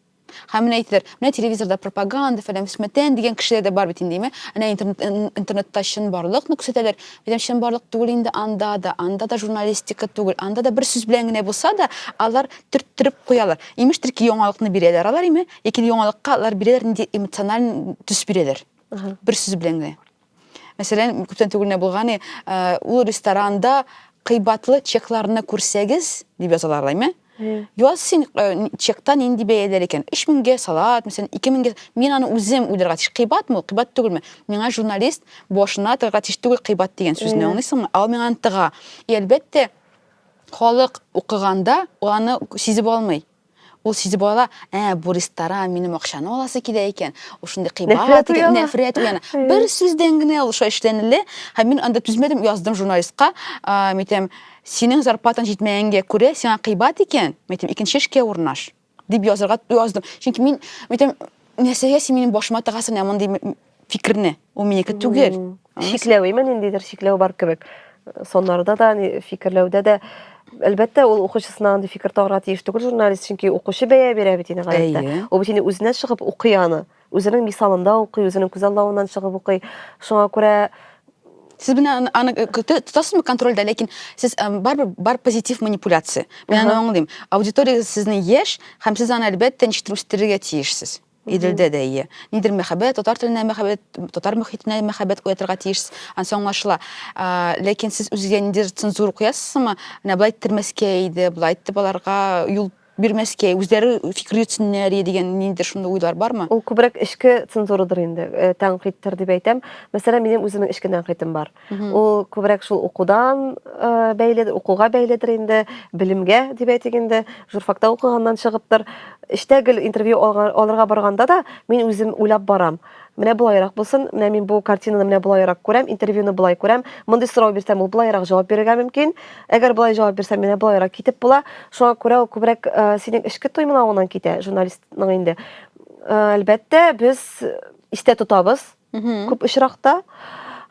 Һәм менә әйтәләр, менә телевизорда пропаганда, фәлән фөсмәтән дигән кешеләр дә бар бит инде, әйме? Әнә интернет, интернетта чынбарлыкны күрсәтәләр. Мәдәм чынбарлык түгел инде анда да, анда да журналистика түгел, анда да бер сүз белән генә булса да, алар төрттереп куялар. Имештер ки, яңалыкны бирәләр алар, әйме? Ләкин яңалыкка алар бирәләр нинди эмоциональ төс бирәләр. Бер сүз белән генә. Мәсәлән, күптән түгел генә булган, э, ул ресторанда кыйбатлы чекларны күрсәгез, дип язалар лайме? Яз син э, чекта нинди бәяләр икән? 3000гә салат, мәсәлән, 2000гә. Мин аны үзем уйларга тиеш. Кыйбатмы, кыйбат түгелме? Миңа журналист башына тыгарга тиеш түгел кыйбат дигән сүзне, аңлыйсыңмы? Ал миңа аны тыга. И әлбәттә, халык укыганда аны сизеп алмый. Ул сизеп ала, ә, бу ресторан, минем акчаны аласы килә икән, ул шундый кыйбат икән, нәфрәт уяна. Бер сүздән генә ул шулай эшләнелде, һәм мин анда түзмәдем, яздым журналистка, мин әйтәм, синең зарплатаң җитмәгәнгә күрә, сиңа кыйбат икән, мин әйтәм, икенче эшкә урнаш, дип язырга яздым. Чөнки мин, мин әйтәм, нәрсәгә син минем башыма тыгасың, ә мондый фикерне ул минеке түгел чикләү имә ниндидер чикләү бар кебек соннарда да фикерләүдә дә әлбәттә ул укучысына андый фикер тагырга тиеш түгел журналист чөнки укучы бәя бирә бит инде гадәттә ул бит инде үзенә чыгып укый аны үзенең мисалында укый үзенең күзаллавыннан чыгып укый шуңа күрә сез менә аны э, тотасызмы контрольдә ләкин сез э, барыбер бар позитив манипуляция мин аны аңлыйм аудитория сезнең яшь һәм сез аны әлбәттә ничектер үстерергә тиешсез Иделдә дә ие. Нидер мәхәббәт, татар теленә мәхәббәт, татар мөхитенә мәхәббәт уятырга тиеш, ансы аңлашыла. Ләкин сез үзегә ниндидер цензура куясызмы? Менә болай иттермәскә иде, болай итеп аларга юл бирмәскә, үзләре фикер йөртсеннәр иде дигән ниндидер шундый уйлар бармы? Ул күбрәк эчке цензурадыр инде, э, тәнкыйтьтер дип әйтәм. Мәсәлән, минем үземнең эчке тәнкыйтем бар. Ул күбрәк шул укудан э, бәйле, укуга бәйледер инде, белемгә дип әйтик инде, журфакта укыганнан чыгыптыр. Эштә гел интервью алырга барганда да мин үзем уйлап барам. Менә болайрак булсын, менә мин бу картинаны менә болайрак күрәм, интервьюны болай күрәм. Мондый сорау бирсәм, ул болайрак җавап бирергә мөмкин. Әгәр болай җавап бирсәм, менә болайрак китеп була. Шуңа күрә ул күбрәк э, синең эчке тоймалавыңнан китә, журналистның инде. Э, әлбәттә, без истә тотабыз Күп очракта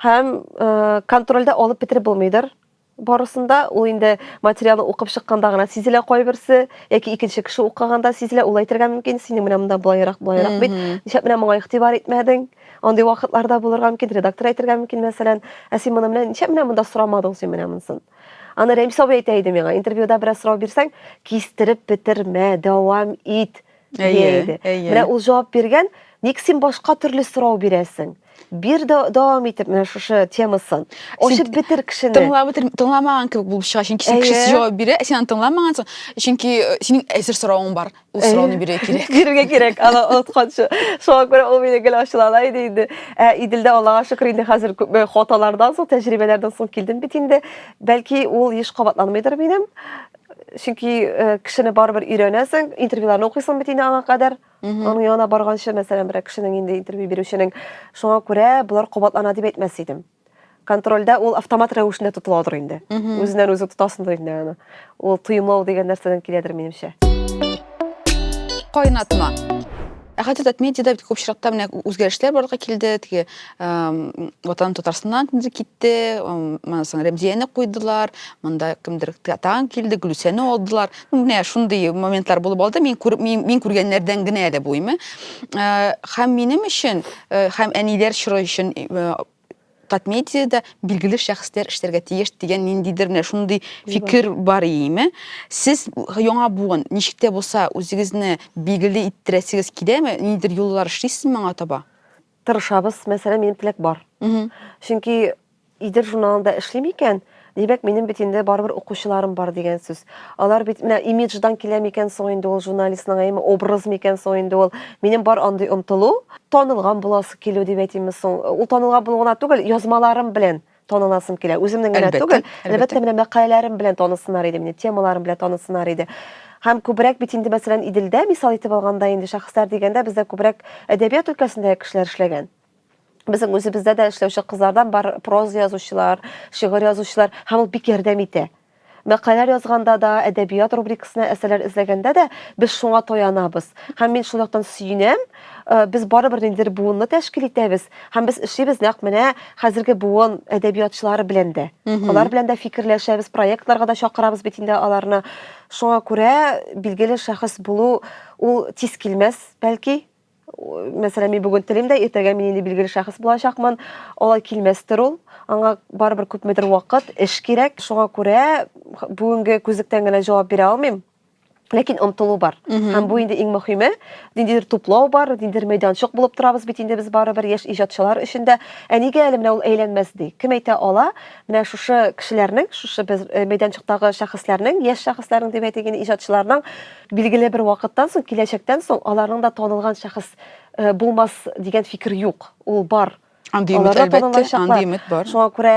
һәм э, контрольдә алып бетереп булмыйдыр. Барысында ул инде материалны укып чыкканда гына сизелә кайберсе, яки икенче кеше укыганда сизелә, ул әйтергә мөмкин, синең менә монда булайрак, булайрак бит. Нишләп менә моңа игътибар итмәдең? Андый вакытларда булырга мөмкин, редактор әйтергә мөмкин, мәсәлән, ә син моны менә нишләп менә монда сорамадың син менә монысын? Аны Рәмис абый әйтә иде миңа, интервьюда бераз сорау бирсәң, кистереп бетермә, дәвам ит. Әйе, әйе. Менә ул җавап биргән, ник син башка төрле сорау бирәсең? Бир дә дәвам итеп менә шушы темасын. Ачып бетер кешене. Тыңлап бетер, тыңламаган кебек булып чыга, чөнки син кеше җавап бирә, син аны тыңламагансың, чөнки э, синең әзер соравың бар. Ул сорауны бирергә кирәк. Бирергә кирәк, аны онытканчы. Шуңа күрә ул мине гел ачулана иде инде. Ә Иделдә Аллага шөкер инде хәзер күп э, хаталардан соң, тәҗрибәләрдән соң килдем бит инде. Бәлки ул еш кабатланмыйдыр минем. чөнки э, кешене барыбер өйрәнәсең интервьюларны укыйсың бит инде аңа кадәр аның янына барганчы мәсәлән берәр кешенең инде интервью бирүченең шуңа күрә болар кабатлана дип әйтмәс идем контрольдә ул автомат рәвешендә тотыладыр инде үзеннән үзе тотасыңдыр инде аны ул тоемлау дигән нәрсәдән киләдер минемчә кайнатма Ә хәтер дат медиада бит күп чираттан менә үзгәрешләр барлыкка килде. Теге ватан Татарстаннан кемдер китте, моннан соң Рәмзияне куйдылар, монда кемдер тагын килде, Гөлүсәне алдылар. Ну, менә шундый моментлар булып алды. Мин күреп, мин, мин күргәннәрдән генә әле бу име. Һәм минем өчен, һәм әниләр чоры өчен Татмедиядә билгеле шәхесләр эшләргә тиеш дигән ниндидер менә шундый фикер бар иеме? Сез яңа буын ничек тә булса үзегезне билгеле иттерәсегез киләме? Ниндидер юллар эшлисезме моңа таба? Тырышабыз, мәсәлән, минем теләк бар. Чөнки Идел журналында эшлим икән, Димәк, минем бит инде барыбер укучыларым бар дигән сүз. Алар бит менә имидждан килә микән соң инде ул журналистның әйме образ микән соң инде ул. Минем бар андый омтылу, танылган буласы килү дип әйтимме соң. Ул танылган булу гына түгел, язмаларым белән таныласым килә. Үземнең генә түгел, әлбәттә, менә мәкаләләрем белән танысыннар иде мине, темаларым белән танысыннар иде. Һәм күбрәк бит инде, мәсәлән, Иделдә мисал итеп алганда, инде шәхесләр дигәндә, бездә күбрәк әдәбият өлкәсендәге кешеләр эшләгән. Безнең үзебездә дә эшләүче кызлардан бар проза язучылар, шигырь язучылар, һәм ул бик ярдәм итә. Мәкаләләр язганда да, әдәбият рубрикасына әсәрләр эзләгәндә дә без шуңа таянабыз. Һәм мин шул яктан сөенәм, э, без барыбер ниндидер буынны тәшкил итәбез, һәм без эшлибез нәкъ менә хәзерге буын әдәбиятчылары белән дә. Алар белән дә фикерләшәбез, проектларга да чакырабыз бит инде аларны. Шуңа күрә билгеле шәхес булу ул тиз килмәс, бәлки. мәсәлән, мин бүген телим дә, иртәгә мин инде билгеле шәхес булачакмын. Алай килмәстер ул. Аңа барыбер күпмедер вакыт, эш кирәк. Шуңа күрә бүгенге күзлектән генә җавап бирә алмыйм. Ләкин омтылу бар. Һәм бу инде иң мөһиме. Ниндидер туплау бар, ниндидер мәйданчык булып торабыз бит инде без барыбер яшь иҗатчылар өчен дә. Ә нигә әле менә ул әйләнмәс ди? Кем әйтә ала? Менә шушы кешеләрнең, шушы без мәйданчыктагы шәхесләрнең, яшь шәхесләрнең дип әйтик инде, иҗатчыларның Билгеле бер вакыттан соң, киләчәктән соң аларның да танылган шәхес э, булмас дигән фикер юк. Ул бар. Андый өмет, әлбәттә, андый өмет бар. Шуңа күрә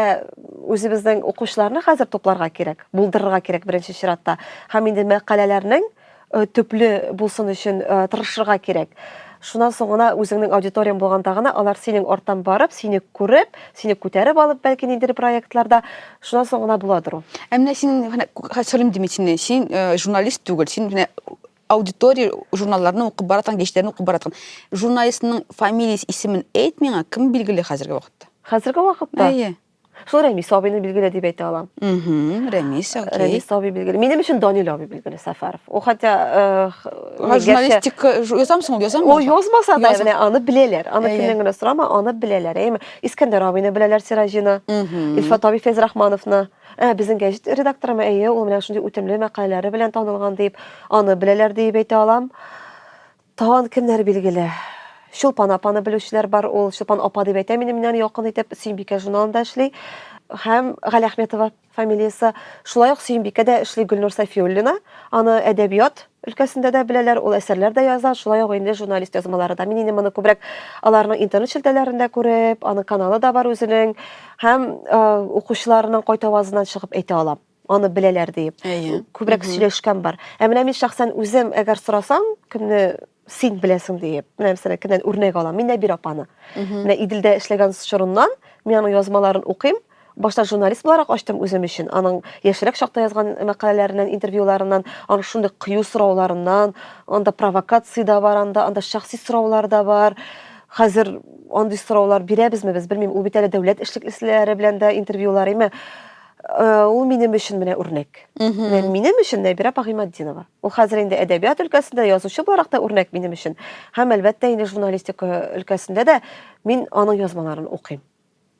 үзебезнең укучыларны хәзер тупларга кирәк, булдырырга кирәк беренче чиратта. Һәм инде мәкаләләрнең э, төпле булсын өчен э, тырышырга кирәк. Шуннан соң гына үзеңнең аудиторияң булганда гына алар синең арттан барып, сине күреп, сине күтәреп алып, бәлки ниндидер проектларда Шуннан соң гына буладыр ул. Ә менә син менә хәсрим дими син, син э, журналист түгел, син менә аудитория журналларны укып баратан, гечләрне укып баратан. Журналистның фамилияс исемен әйт миңа, кем билгеле хәзерге вакытта? Хәзерге вакытта? Әйе. Шул Рәмис абыйны билгеле дип әйтә алам. Угу, Рәмис, окей. Рәмис абый билгеле. Минем өчен Данил абый билгеле Сәфәров. О, хотя... Э, Ха, журналистик, язамсың ул, язамсың? Ул язмаса да, менә аны беләләр. Аны кемнән генә сорама, аны беләләр. Әйме, Искәндәр абыйны беләләр Сираҗина, Илфат абый Фәйзрахмановны. Ә, безнең гәҗит редакторымы, әйе, ул менә шундый үтемле мәкаләләре белән танылган дип, аны беләләр диеп әйтә алам. Тагын кемнәр билгеле? Чулпан апаны белүчеләр бар, ул Чулпан апа дип әйтә минем менән якын итеп, Сөембикә журналында эшли. Һәм Гали Әхметова. Фамилиясе шулай ук Сөембикә дә эшли Гөлнур Сафиуллина. Аны әдәбият өлкәсендә дә беләләр, ул әсәрләр дә яза, шулай ук инде журналист язмалары да. Мин инде моны күбрәк аларның интернет челтәләрендә күреп, аның каналы да бар үзенең, һәм укучыларының кайт авазыннан чыгып әйтә алам аны беләләр диеп күбрәк сөйләшкән бар ә менә мин шәхсән үзем әгәр сорасам кемне син беләсең диеп, менә мәсәлән, кемнән үрнәк алам, мин Нәбир апаны. Менә Иделдә эшләгән чорыннан мин аның язмаларын укыйм. Башта журналист буларак ачтым үзем өчен. Аның яшьрәк чакта язган мәкаләләреннән, интервьюларыннан, аның шундый кыю сорауларыннан, анда провокация да бар, анда, анда шәхси сораулар да бар. Хәзер андый сораулар бирәбезме без, белмим. Ул бит әле дәүләт эшлеклесе белән дә интервьюлар, әмма э, ул минем өчен менә үрнәк. Менә минем өчен Нәбирә Пагыйматдинова. Ул хәзер инде әдәбият өлкәсендә язучы буларак та үрнәк минем өчен. Һәм әлбәттә инде журналистика өлкәсендә дә мин аның язмаларын укыйм.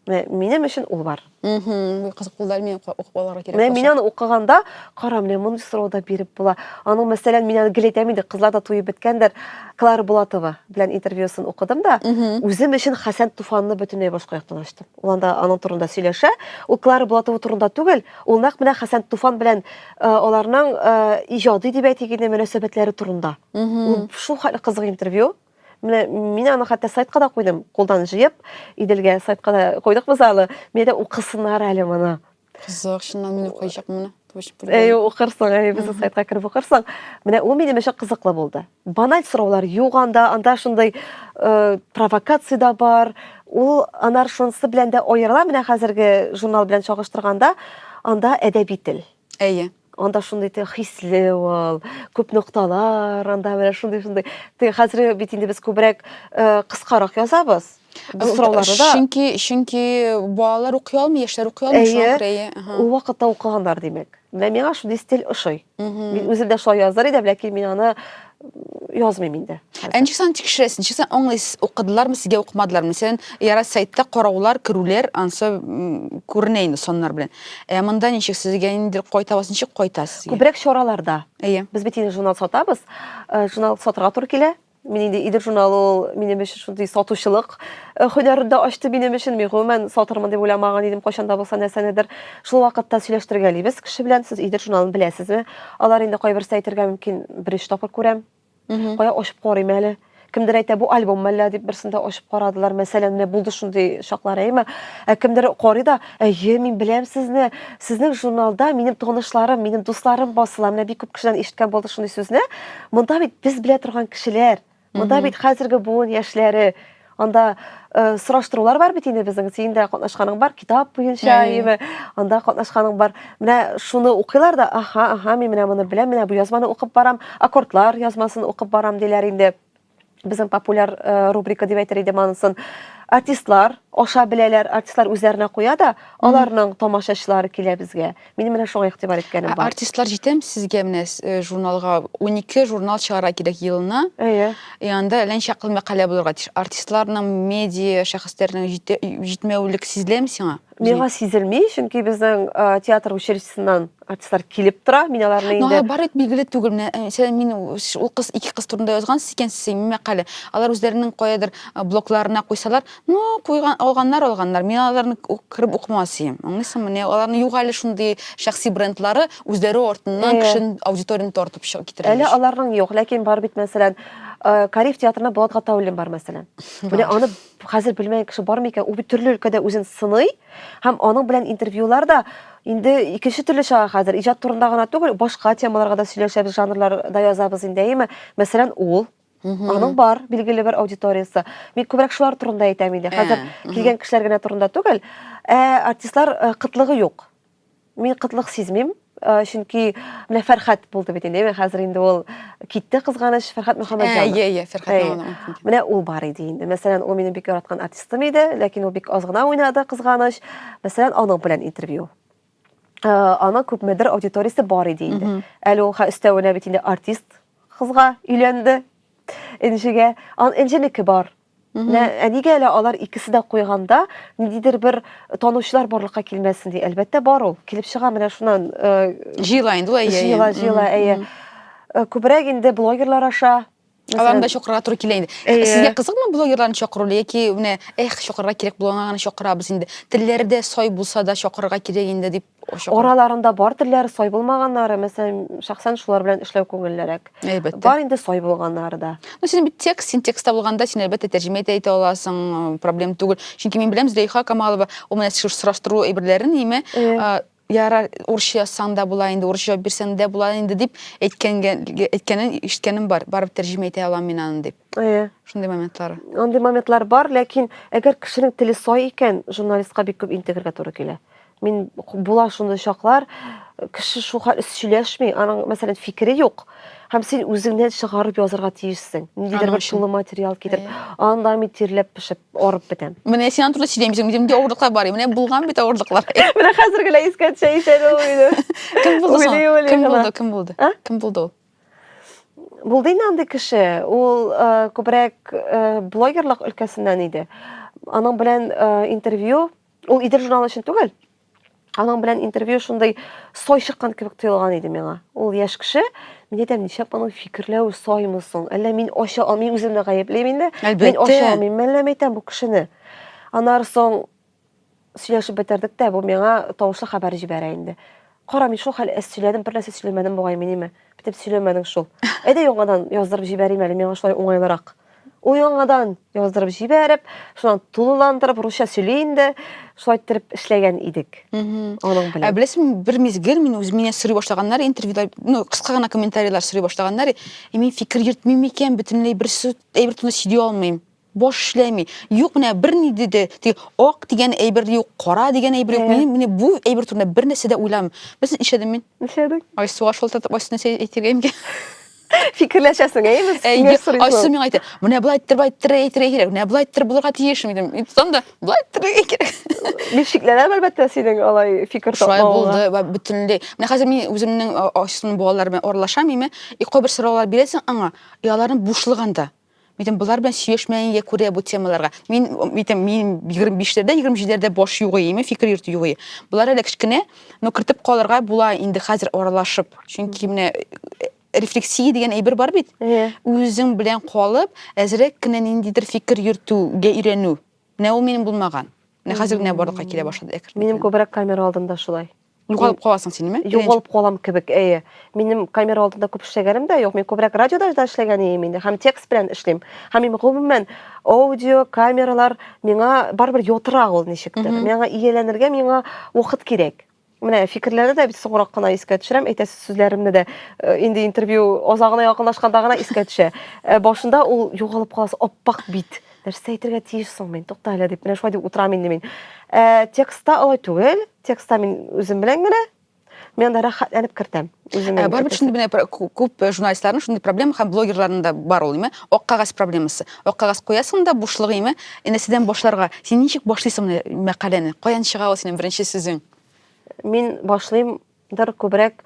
Менә минем өчен ул бар. Мгм. Кызык булды әле мин укып аларга кирәк. Менә мин аны укыганда, кара, менә мондый сорау да биреп була. Аның мәсәлән, мин аны гел әйтәм инде, кызлар да туеп беткәндер. Клара Булатова белән интервьюсын укыдым да, үзем өчен Хәсән Туфанны бөтенләй башка яктан ачтым. Ул анда аның турында сөйләшә. Ул Клара Булатова турында түгел, ул нәкъ менә Хәсән Туфан белән Э, аларның э, иҗади дип әйтик инде мөнәсәбәтләре турында ул шул хәтле кызык интервью менә мин аны хәтта сайтка да куйдым кулдан җыеп иделгә сайтка да койдык без аны менә дә укысыннар әле моны кызык чыннан мин укыйчакмын моны Әй, укырсың, әй, безнең сайтка кереп укырсың. Менә ул минем өчен кызыклы булды. Баналь сораулар юк анда, анда шундый э, провокация да бар. Ул анар шунысы белән дә аерыла, менә хәзерге журнал белән чагыштырганда, анда әдәби тел. Әйе. Анда шундый те хисле ул, күп нокталар, анда менә шундый шундый. Те хәзер бит инде без күбрәк э, кыскарак язабыз. Без сорауларны да Чөнки чөнки балалар укый алмый, яшьләр укый алмый, шуңа Әйе. күрә әйе. Аха. ул вакытта укыганнар димәк. Менә миңа шундый стиль ошый. Мин үзе дә шулай язар идем, ләкин мин аны язмыйм инде. Ә ничек сан тикшерәсез? Ничек сан аңлыйсыз? Укыдылармы сезгә укымадылармы? Мәсәлән, яра сайтта караулар, керүләр, ансы күренә инде саннар белән. Ә монда ничек сезгә инде кайтабыз, ничек кайтасыз? Күбрәк чараларда. Әйе. Без бит инде журнал сатабыз. Э, журнал сатырга туры килә. Мин инде Идел журналы ул минем өчен шундый сатучылык э, һөнәрен дә ачты минем өчен. Мин гомумән сатырмын дип уйламаган идем кайчан да булса нәрсәнедер. Шул вакытта сөйләштергәлибез кеше белән. Сез Идел журналын беләсезме? Алар инде кайберсе әйтергә мөмкин, беренче тапкыр күрәм. Кая ачып карыйм әле. Кемдер әйтә, бу альбом мәллә дип берсендә ачып карадылар. Мәсәлән, менә булды шундый чаклар, әйме? Ә кемдер карый да, Әйе, мин беләм сезне. Сезнең журналда минем танышларым, минем дусларым басыла. Менә бик күп кешедән ишеткән булды шундый сүзне. Монда бит без белә торган кешеләр. Монда бит хәзерге буын яшьләре. Анда э, сораштырулар бар бит инде безнең. Синең дә катнашканың бар китап буенча, әйеме? Анда катнашканың бар. Менә шуны укыйлар да, аха, аха, мин менә моны беләм, менә бу язманы укып барам, аккордлар язмасын укып барам диләр инде. безнең популяр э, рубрика дип әйтер идем анысын артистлар аша беләләр артистлар үзләренә куя да аларның тамашачылары килә безгә мин менә шуңа игътибар иткәнем бар артистлар җитәм сезгә менә э, журналга унике журнал чыгара кирәк елына әйе и анда әллә мәкалә булырга тиеш артистларның медиа шәхесләрнең җитмәвелек сизеләме сиңа Миңа сизелми, чөнки безнең театр училищесыннан артистлар килеп тора. Мин аларны инде... Алар бар бит билгеле түгел. Э, мин ул кыз ике кыз турында язган икән син мәкале. Алар үзләренең каядыр э, блокларына куйсалар, ну, куйган, алганнар, алганнар. Мин аларны кереп укымас идем. Аңлыйсыңмы? Менә аларны юк әле шундый шәхси брендлары үзләре артыннан э. кешен аудиторияне тартып чыгып китерә. Әле аларның юк, ләкин бар бит мәсәлән, Кариф театрына Булат Гатауллин бар мәсәлән. Менә аны хәзер белмәгән кеше бар микән? Ул бит төрле өлкәдә үзен сыный һәм аның белән интервьюлар да инде икенче төрле чыга хәзер. Иҗат турында гына түгел, башка темаларга да сөйләшәбез, жанрларда язабыз инде, әйеме? Мәсәлән, ул Аның бар билгеле бер аудиториясе. Мин күбрәк шулар турында әйтәм инде. Хәзер килгән кешеләр генә турында түгел, ә артистлар э, кытлыгы юк. Мин кытлык сизмим, э, чөнки менә Фәрхәт булды бит инде, хәзер инде ул китте кызганыч, Фәрхәт э, Мөхәммәтҗанов. Әйе, әйе, Фәрхәт Менә ул бар иде инде. Мәсәлән, ул минем бик яраткан артистым иде, ләкин ул бик аз гына уйнады кызганыч. Мәсәлән, аның белән интервью. Э, аның күпмедер аудиториясе бар иде инде. Әле ул өстәвенә бит инде артист кызга өйләнде. Энҗегә. Ан Энҗенеке бар. Лә, ә нигә әле алар икесе дә куйганда ниндидер бер танучылар барлыкка килмәсен ди. Әлбәттә бар ул. Килеп чыга менә шуннан. Э, җыела инде ул әйе. Җыела, җыела, әйе. Э, күбрәк инде блогерлар аша Аларны да чакырырга туры килә инде. Э, Сезгә кызыкмы блогерларны чакыру яки менә эх чакырырга кирәк булган гына чакырабыз инде. Телләре дә сай булса да чакырырга кирәк инде дип Ошыгы. Араларында бар телләре сай булмаганнары, мәсәлән, шәхсән шулар белән эшләү күңеллерәк. Әлбәттә. Бар инде сай булганнары да. Ну, син бит текст, син текстта булганда, син әлбәттә тәрҗемә итә итә аласың, проблем түгел. Чөнки мин беләм Зөләйха Камалова, ул менә сораштыру әйберләрен име, яра урысча язсаң да була инде, урысча җавап бирсәң дә була инде дип әйткәнен ишеткәнем бар. Барып тәрҗемә итә алам мин аны дип. Әйе. Шундый моментлар. Андый моментлар бар, ләкин әгәр кешенең теле сай икән, журналистка бик күп интегергә туры килә. Мин була шундый чаклар, кеше шул хәл сөйләшми, аның, мәсәлән, фикере юк. Һәм син үзеңнән чыгарып язырга тиешсең. Ниндидер бер шулы материал китереп, анда мин тирләп пешеп, арып бетәм. Менә син турында сөйләмисең, минемдә авырлыклар бар. Менә булган бит авырлыклар. Менә хәзер генә искә төшә икән ул иде. Кем булды соң? Кем булды? Кем булды? Кем булды ул? Булды инде андый кеше. Ул күбрәк блогерлык өлкәсеннән иде. Аның белән интервью Ул Идел журналы өчен түгел. Аның белән интервью шундый сой чыккан кебек тоелган иде миңа. Ул яшь кеше, мин әйтәм, нишләп аның фикерләве соймы соң? Әллә мин ача алмыйм, үземне гаеплим инде. Мин ача алмыйм, әллә мәйтәм бу кешене. Аннары соң сөйләшеп бетердек тә, бу миңа тавышлы хәбәр җибәрә инде. Кара, мин шул хәл әс сөйләдем, бер нәрсә сөйләмәдем бугай минеме? Битеп сөйләмәдең шул. Әйдә яңадан яздырып җибәрим әле, миңа шулай уңайлырак. Ул яңадан яздырып җибәреп, шуннан тулыландырып, русча сөйли инде, шулай иттереп эшләгән идек. Аның белән. Ә беләсең, бер мизгел мин үз мине сорый башлаганнар, интервьюда, ну, кыска гына комментарийлар сорый башлаганнар, и мин фикер йөртмим икән, бөтенләй бер сүз, әйбер турында сөйли алмыйм. Баш эшләми. Юк, менә берни диде, ди, ак дигән әйбер юк, кара дигән әйбер юк. Мин менә бу әйбер турында бер нәрсә дә уйламыйм. Без эшләдем мин. Эшләдек. Айсуга шалтыратып, Айсу нәрсә әйтергә инде? Фикерләшәсең, әйеме? Әйе, Айсу миңа әйтте, менә болай әйттереп, болай әйттереп әйтергә кирәк, менә болай әйттереп булырга тиеш, дидем. Мин тотам да, болай әйттерергә кирәк. Мин шикләнәм, әлбәттә, синең алай фикер тапмавыңа. Шулай булды, ва бөтенләй. Менә хәзер мин үземнең Айсуның балалары белән аралашам, әйме? И кайбер сораулар бирәсең аңа, и аларның бушлыгы анда. Митем, болар белән сөйләшмәгәнгә күрә бу темаларга. Мин митем, мин 25-ләрдә, 27-ләрдә баш югы име, фикер йөртү югы. Болар әле кечкенә, но кертеп калырга була инде хәзер аралашып. Чөнки менә э, рефлексия дигән әйбер бар бит. Үзең белән калып, әзрәк кенә ниндидер фикер йөртүгә өйрәнү. Менә ул минем булмаган. Менә хәзер генә барлыкка килә башлады әкрен. Минем күбрәк камера алдында шулай. Югалып каласың син, ме? Югалып калам кебек, әйе. Минем камера алдында күп эшләгәнем дә юк. Мин күбрәк радиода да эшләгән идем инде, һәм текст белән эшлим. Һәм мин гомумән аудио, камералар миңа барыбер йотрак ул ничектер. Миңа ияләнергә миңа вакыт кирәк. Менә фикерләрне дә бит соңрак кына искә төшерәм, әйтәсе сүзләремне дә э, инде интервью азагына якынлашканда гына искә төшә. Э, башында ул югалып каласы, аппак бит. Нәрсә әйтергә тиеш соң мин? Тукта әле дип, менә шулай дип утырам инде мин. Э, текстта алай түгел. Текстта мин үзем белән генә мен анда рәхәтләнеп кертәм үземә барыбер шундый менә күп журналистларның шундый проблема һәм блогерларның да бар ул ак кагаз проблемасы Вакыгаз куясың да бушлык име? Энәседән башларга. Син ничек башлыйсың менә мәкаләне? Каян чыга ул синең беренче сүзең? Мин башлыйм дыр күбрәк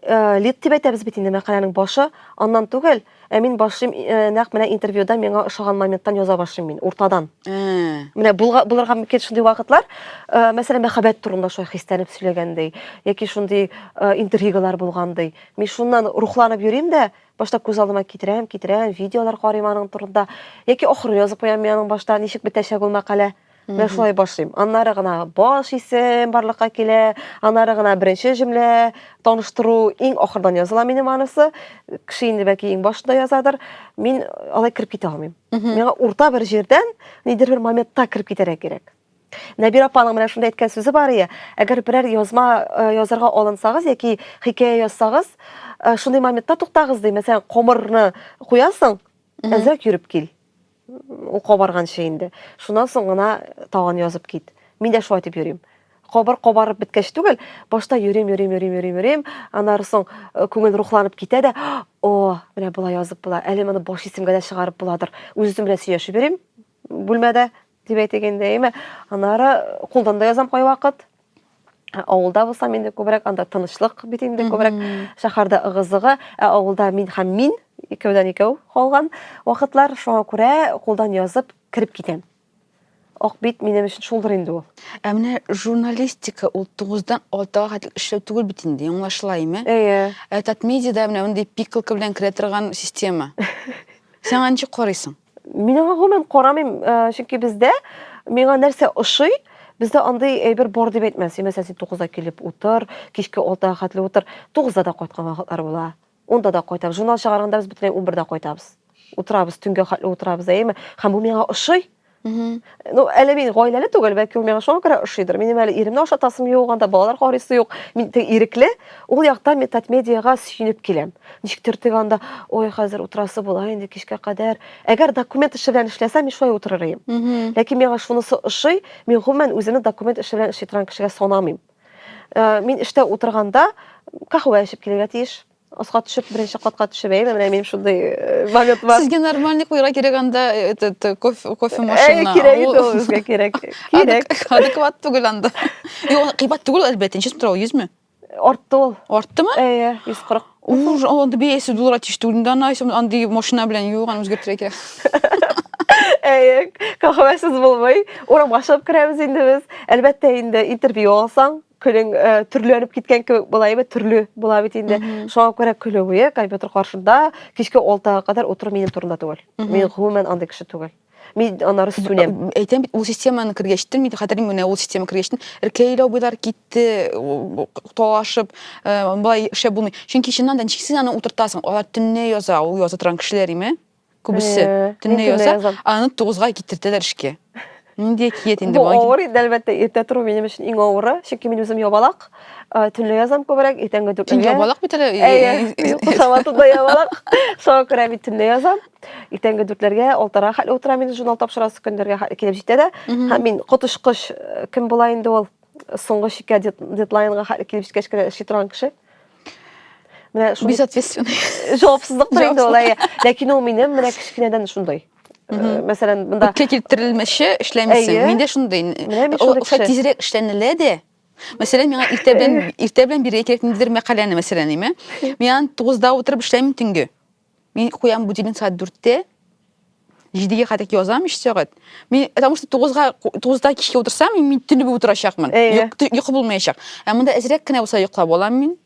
э, лид дип әйтәбез бит инде мәкаләнең башы, аннан түгел, ә мин башлыйм э, нәкъ менә интервьюда миңа ошаган моменттан яза башлыйм мин, уртадан. Ә. Менә булга, булырга мөмкин шундый вакытлар, э, мәсәлән, мәхәббәт турында шулай хисләнеп сөйләгәндәй, яки шундый э, интригалар булгандый. Мин шуннан рухланып йөрим дә, Башта күз алдыма китерәм, китерәм, видеолар карыйм аның турында. Яки ахырын язып куям мин аның башта ничек бетәчәк ул мәкалә. Менә шулай башлыйм. Аннары гына баш исем барлыкка килә, аннары гына беренче җөмлә, таныштыру, иң ахырдан языла минем анысы. Кеше инде бәки иң башында язадыр. Мин алай кереп китә алмыйм. Миңа урта бер җирдән, нидер бер моментта кереп китәргә кирәк. Нәбир апаның менә шунда әйткән сүзе бар ие, әгәр берәр язма э, язарга алынсагыз яки хикәя язсагыз, э, шундый моментта туктагыз ди. Мәсәлән, комырны куясың, әзрәк йөреп кил. Ул кабарганчы инде. Шуннан соң гына тагын язып кит. Мин дә шулай дип йөрим. Кабар кабарып беткәч түгел, башта йөрим, йөрим, йөрим, йөрим, йөрим. Аннары соң э, күңел рухланып китә дә, о, менә болай язып була. Әле моны баш исемгә дә чыгарып буладыр. Үзем белән сөйләшеп йөрим. бүлмәдә дип әйтик инде, әйме. Аннары кулдан да язам кайвакыт. Авылда булсам инде күбрәк анда тынычлык бит инде күбрәк. Шәһәрдә ыгы-зыгы, ә авылда мин һәм мин икәүдән икәү калган вакытлар, шуңа күрә кулдан язып кереп китәм. Ак бит минем өчен шулдыр инде ул. Ә менә журналистика ул 9-дан 6-га хәтле эшләү түгел бит инде, аңлашыла, әйме? Әйе. Ә Татмедиада менә мондый пикалка белән керә торган система. Сиңа ничек карыйсың? Мин аңа гомумән карамыйм, э, чөнки бездә миңа нәрсә ошый, бездә андый әйбер бар дип әйтмә. Син мәсәлән, син 9-да килеп утыр, кичке 6-га хәтле утыр. 9-да да кайткан вакытлар була. 10-да да кайтам. Журнал чыгарганда без бөтенләй 11-да кайтабыз. Утырабыз, төнгә хәтле утырабыз, әйеме? Һәм бу миңа ошый. Ну, әле мин гаиләле түгел, бәлки ул миңа шуңа күрә ошыйдыр. Минем әле иремне ашатасым юк, анда балалар карыйсы юк. Мин теге ирекле, ул якта мин татмедиага сөенеп киләм. Ничектер теге анда, ой, хәзер утырасы була инде кичкә кадәр. Әгәр документ эше белән эшләсәм, мин шулай утырыр идем. Ләкин миңа шунысы ошый, мин гомумән үземне документ эше белән эшли торган кешегә санамыйм. Э, мин эштә утырганда кахвә эчеп килергә тиеш. Аска төшеп, беренче катка төшеп, әйме, менә минем шундый э, момент бар. Сезгә нормальный куйра кирәк анда э, этот э, кофе, кофе Әй, машина. кирәк Ул- инде ул безгә кирәк. Кирәк. Адек- Адекват түгел анда. Юк, кыйбат түгел әлбәттә. Ничә сумтыра ул? 100 ме? Артты ул. Арттымы? Әйе, 140. Уж анда биясе доллар тиеш түгел. Инде аны айсам андый машина белән юк, аны үзгәртергә кирәк. Әйе, кахвәсез булмый. Урамга чыгып керәбез инде без. Әлбәттә инде интервью алсаң, көнең ә, э, төрләнеп киткән кебек була әйбәт төрле була бит инде шуңа күрә көне буе компьютер каршында кичке алтыга кадәр утыру минем турында түгел мин гомумән андый кеше түгел мин аннары сүнәм әйтәм бит ул системаны кергәчтен мин хәтерим менә ул система кергәчтен эркәйләү буйлар китте талашып э, болай шәп булмый чөнки чыннан да ничек син аны утыртасың алар төнлә яза ул яза торган кешеләр име Күбесе төнлә яза, аны тугызга китертәләр эшкә. Нинди әкият инде бу? Бу авыр инде, әлбәттә, иртә тору минем өчен иң авыры, чөнки мин үзем ябалак, төнлә язам күбрәк, иртәнге дүрткә. Төнлә ябалак бит әле. Әйе, кушаматында ябалак. Шуңа күрә мин төнлә язам. Иртәнге дүртләргә, алтыра хәтле утыра мин журнал тапшырасы көндәргә килеп җитә дә. Һәм мин котышкыч кем була инде ул? Соңгы чиккә дедлайнга хәтле килеп җиткәч кенә эшли торган кеше. менә шул безответственный җавапсызлык та инде ул әйе ләкин ул минем менә кечкенәдән шундый мәсәлән монда үткә килтерелмичә эшләмисең миндә шундый ул тизрәк эшләнелә дә Мәсәлән, миңа иртә белән иртә белән бирә кирәк ниндидер мәкаләне, мәсәлән, әйме. Мин аны 9да утырып эшләмим төнге. Мин куям будильник сәгать дүрттә, җидегә хәтлек язам өч сәгать. Мин, потому что тугызга, тугызда кичке утырсам, мин, мин төнле булып утырачакмын. Әйе. Йок- тө- Йокы булмаячак. Ә монда әзрәк кенә булса йоклап алам мин.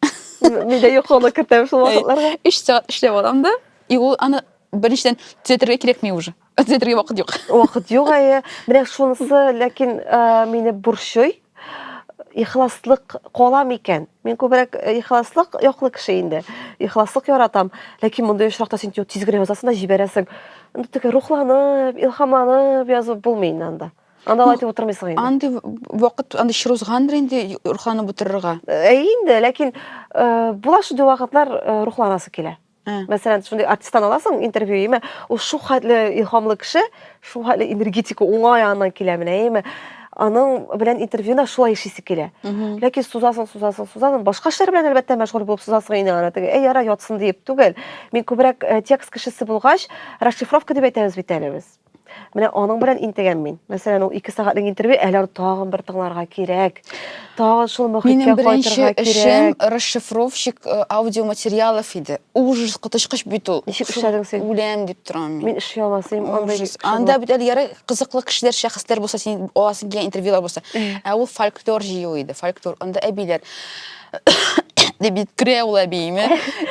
Мин дә йокылы кертәм шул вакытларда. Өч сәгать эшләп алам да. И ул аны беренчедән төзәтергә кирәкми уже. Әзетрге вакыт юк. Вакыт юк, әйе. Менә шунысы, ләкин мине борчый. Ихласлык кала микән? Мин күбрәк ихласлык яклы кеше инде. Ихласлык яратам. Ләкин мондый очракта син тиз генә язасың да җибәрәсең. Инде теге рухланып, илһамланып язып булмый инде анда. Анда алай итеп утырмыйсың инде. Андый вакыт, андый чор узгандыр инде рухланып утырырга. Әйе инде, ләкин була шундый вакытлар рухланасы килә. Ә. Мәсәлән, шундый артисттан аласың интервью, яме, ул шулхәтле илһамлы кеше, шулхәтле энергетика уңай яныннан килә менә, яме. Аның белән интервьюда шулай эшлисе килә. Ләкин сузасың, сузасың, сузасың, башка эшләр белән әлбәттә мәшгуль булып сузасың инде аны. Теге, әй, яра, ятсын диеп түгел. Мин күбрәк э, текст кешесе булгач, расшифровка дип әйтәбез бит әле без. Менә аның белән интегәм мин. Мәсәлән, ул 2 сәгатьлек интервью, әле аны тагын бер тыңларга кирәк. Тагын шул мөхиткә кайтырга кирәк. Минем беренче эшем расшифровщик э, аудиоматериалов иде. Ужас, коточкыч бит ул. Ничек эшләдең син? Үләм дип торам мин. Мин эшли алмас идем. Ужас. Анда бит әле ярый кызыклы кешеләр, шәхесләр булса, син аласың килгән интервьюлар булса. Ә ул фольклор җыю иде, фольклор. Анда әбиләр дип бит керә ул әбиеме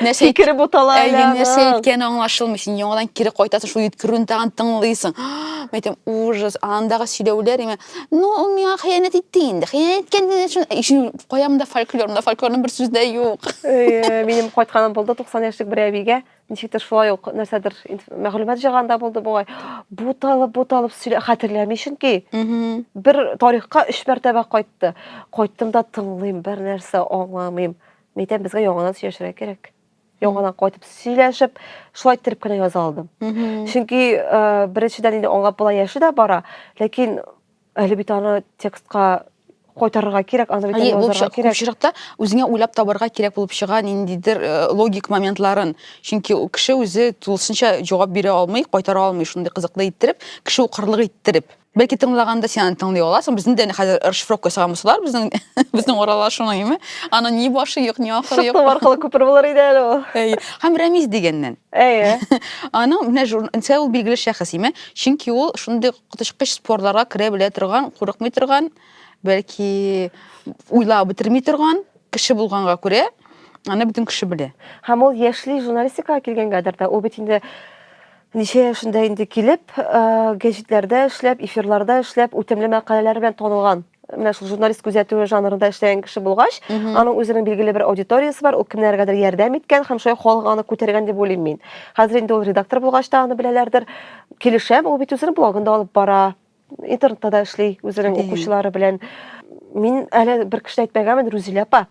нәрсә кире бутала әле нәрсә әйткәне аңлашылмый син яңадан кире кайтасың шул йөткерүен тагын тыңлыйсың мен әйтәм ужас андагы сөйләүләр имә ну ул миңа хыянәт итте инде хыянәт иткән өчен каямда фольклорымда фольклорның бер сүзе дә юк минем кайтканым булды туксан яшьлек бер әбигә Ничектер шулай ук нәрсәдер мәгълүмат җыйганда булды бугай. Буталып, буталып сөйлә, хәтерләми чөнки. Бер тарихка өч мәртәбә кайтты. Кайттым да тыңлыйм, бер нәрсә аңламыйм. Мәйтәм, безгә яңадан сөйләшергә кирәк. Яңадан кайтып сөйләшеп, шулай иттереп кенә яза алдым. Чөнки беренчедән инде аңлап була яше дә бара, ләкин Әле бит аны текстка кайтарырга кирәк, аны бит язарга кирәк. Очракта үзеңә уйлап табарга кирәк булып чыга ниндидер э, логик моментларын. Чөнки кеше үзе тулысынча җавап бирә алмый, кайтара алмый шундый кызыклы иттереп, кеше укырлык иттереп. Бәлки тыңлаганда сен аны тыңлый аласың. Безне дә хәзер расшифровка ясаган булсалар, безнең безнең аралашуны, яме. Аны ни башы юк, ни ахыры юк. Шуның аркылы күпер булыр иде әле ул. Әйе. Һәм Рәмиз дигәннән. Әйе. Аның менә журналистка ул билгеле шәхес, яме. Чөнки ул шундый коточкыч спорларга керә белә торган, курыкмый торган, бәлки уйлап бетерми торган кеше булганга күрә, аны бөтен кеше белә. Һәм ул яшьли журналистикага килгәнгәдер дә, ул бит инде ничә яшендә инде килеп, гәҗитләрдә эшләп, эфирларда эшләп, үтемле мәкаләләре белән танылган. менә шул журналист күзәтүе жанрында эшләгән кеше булгач, аның үзенең билгеле бер аудиториясе бар, ул кемнәргәдер ярдәм иткән һәм шулай халык аны күтәргән дип уйлыйм мин. Хәзер инде ул редактор булгач та аны беләләрдер. Килешәм, ул бит үзенең блогында алып бара, интернетта да эшли үзенең укучылары белән. Мин әле бер кеше әйтмәгәнмен, Рузилә апа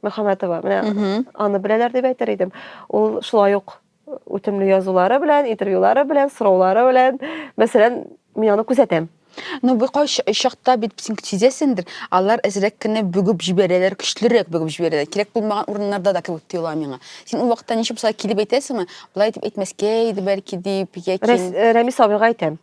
Мөхәммәтова. Менә аны беләләр дип әйтер идем. Ул шулай ук Үтемле язулары белән, интервьюлары белән, сораулары белән. Мәсәлән, мин аны күзәтәм. Ну, бу кайш чакта бит син сизәсендер, алар әзрәк кенә бүгеп җибәрәләр, көчлерәк бүгеп җибәрәләр. Кирәк булмаган урыннарда да кебек тоела миңа. Син ул вакытта ничек булса килеп әйтәсеңме? Болай дип әйтмәскә иде бәлки дип, яки э, Рәмис абыйга әйтәм.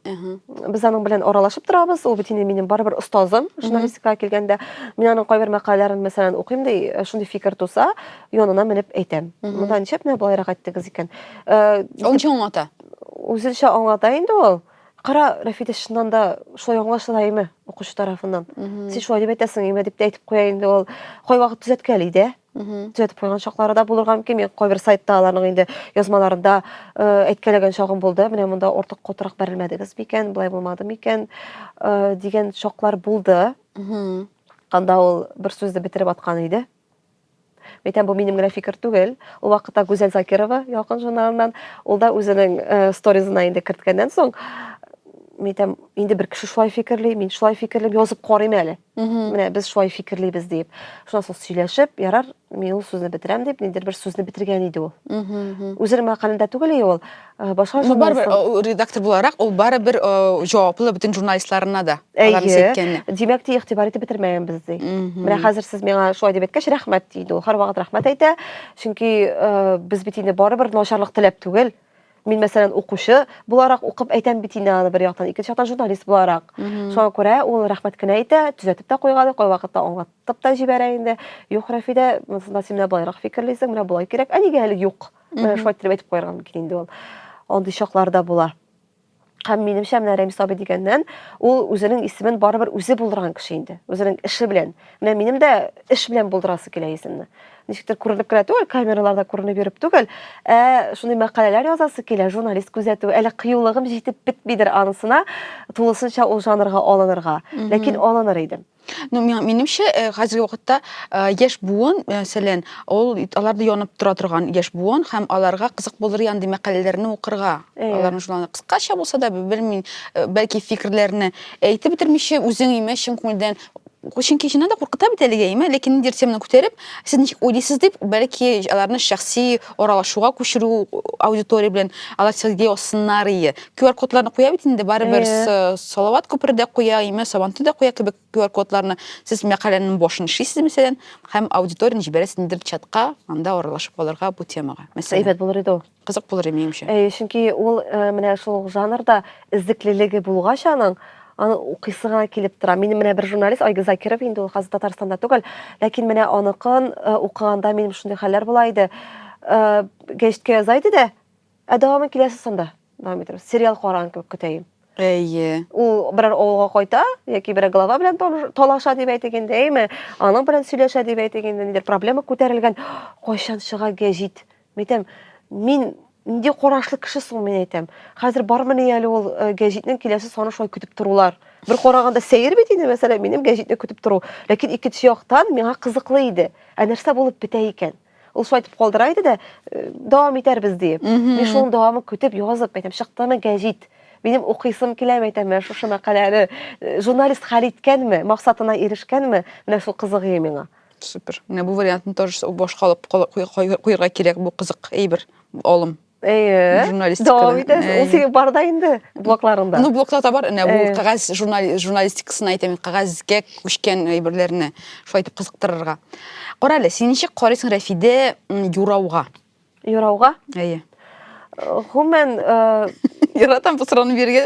Без аның белән аралашып торабыз. Ул бит инде минем барыбер остазым, журналистикага килгәндә. Мин аның кайбер мәкаләләрен мәсәлән укыйм ди, э, шундый фикер туса, янына менеп әйтәм. Монда ничек менә болайрак әйттегез икән? Э, ул ничек аңлата? Үзенчә аңлата инде ул. Кара, Рәфидә чыннан да шулай аңлашыла име укучы тарафыннан? Син шулай дип әйтәсең име дип тә әйтеп куя инде ул. Кайвакыт төзәткәли дә. Төзәтеп куйган чаклары да булырга мөмкин. Мин кайбер сайтта аларның инде язмаларында э, әйткәләгән чагым булды. Менә монда ортык котырак бәрелмәдегез микән, болай булмады микән э, дигән чаклар булды. Анда ул бер сүзне бетереп аткан иде. Әйтәм, бу минем генә фикер түгел. Ул вакытта Гүзәл Закирова Ялкын журналыннан, ул да үзенең э, сторизына инде керткәннән соң, әйтәм, инде бер кеше шулай фикерли, мин шулай фикерлим, язып карыйм әле. Менә без шулай фикерлибез дип. Шуннан соң сөйләшеп, ярар, мин ул сүзне бетерәм дип, ниндер бер сүзне бетергән иде ул. Үзенең мәкалендә түгел ул. Э, башка ну барыбер э, редактор буларак ул барыбер э, җаваплы бөтен журналистларына да әйе димәк ди игътибар итеп бетермәгәнбез ди менә хәзер сез миңа шулай дип әйткәч рәхмәт диде ул һәрвакыт рәхмәт әйтә чөнки без бит инде барыбер начарлык теләп түгел мин мәсәлән укучы буларак укып әйтәм бит инде аны бер яктан икенче яктан журналист буларак шуңа күрә ул рәхмәт кенә әйтә төзәтеп тә куйган кайвакытта аңлатып та җибәрә инде юк рәфидә монысында син менә болайрак фикерлисең менә болай кирәк ә нигә әле юк менә шулай иттереп әйтеп куярга мөмкин инде ул андый чаклар да була һәм минемчә менә рәмис абый дигәннән ул үзенең исемен барыбер үзе булдырган кеше инде үзенең эше белән менә минем дә эш белән булдырасы килә исемне ничектер күренеп кенә түгел камераларда күренеп йөреп түгел ә шундый мәкаләләр язасы килә журналист күзәтү әле кыюлыгым җитеп бетмидер анысына тулысынча ул жанрга алынырга ләкин алыныр идем Ну, минемчә, э, хәзерге вакытта э, яшь буын, мәсәлән, ул аларда янып тора торган яшь буын һәм аларга кызык булыр янди мәкаләләрне укырга. Аларның шуларны кыскача булса да, белмим, э, бәлки фикерләрне әйтеп бетермичә үзең имә чын күңелдән чөнки чыннан да куркыта бит әлеге әйме ләкин ниндидер теманы күтәреп сез ничек уйлыйсыз дип бәлки аларны шәхси аралашуга күчерү аудитория белән алар сезгә язсыннар ие QR-кодларны куя бит инде, барыбер э. Салават күпере дә куя, име Сабантуй да куя кебек QR-кодларны. Сез мәкаләнең башын эшлисез, мәсәлән, һәм аудиторияне җибәрәсез ниндидер чатка, анда аралашып калырга бу темага. Мәсәлән, әйбәт булыр иде ул. Кызык булыр иде минемчә. Әй, чөнки ул э, менә шул жанрда эзлеклелеге булгач аның, аны укыйсы гына килеп тора. Мин менә бер журналист Айгиз Закиров инде ул хәзер Татарстанда түгел, ләкин менә аныкын э, укыганда минем шундый хәлләр була иде. Гәҗиткә яза иде дә, Ә дәвамын киләсе санда дәвам итәбез. Сериал караган кебек көтәем. Әйе. Ул берәр авылга кайта, яки берәр глава белән талаша дип әйтик инде, әйме? Аның белән сөйләшә дип әйтик инде, нидер проблема күтәрелгән. Кайчан чыга гәҗит? Митәм, мин нинди карашлы кеше соң мин әйтәм. Хәзер бармыни әле ул э, гәҗитнең киләсе саны шулай көтеп торулар. Бер караганда сәер бит инде, мәсәлән, минем гәҗитне көтеп тору. Ләкин икенче яктан миңа кызыклы иде. Ә нәрсә булып бетә икән? Ул шулай итеп калдыра иде дә, дәвам итәрбез диеп. Мин шуның дәвамын көтеп язып, әйтәм, чыктымы гәҗит? Минем укыйсым килә, әйтәм, менә шушы мәкаләне журналист хәл иткәнме, максатына ирешкәнме, менә шул кызыгы миңа. Супер. Менә бу вариантны тоже башка алып куярга кирәк, бу кызык әйбер, алым. Э, журналистика дәвам итәсең э. ул синең барда инде блокларыңда ну блокларда бар менә бу э. кәгазь журналистикасын әйтәм кәгазьгә күчкән әйберләрне шулай итеп кызыктырырга кара әле син ничек карыйсың рәфидә юрауга юрауга әйе гомумән яратам бу сорауны бирергә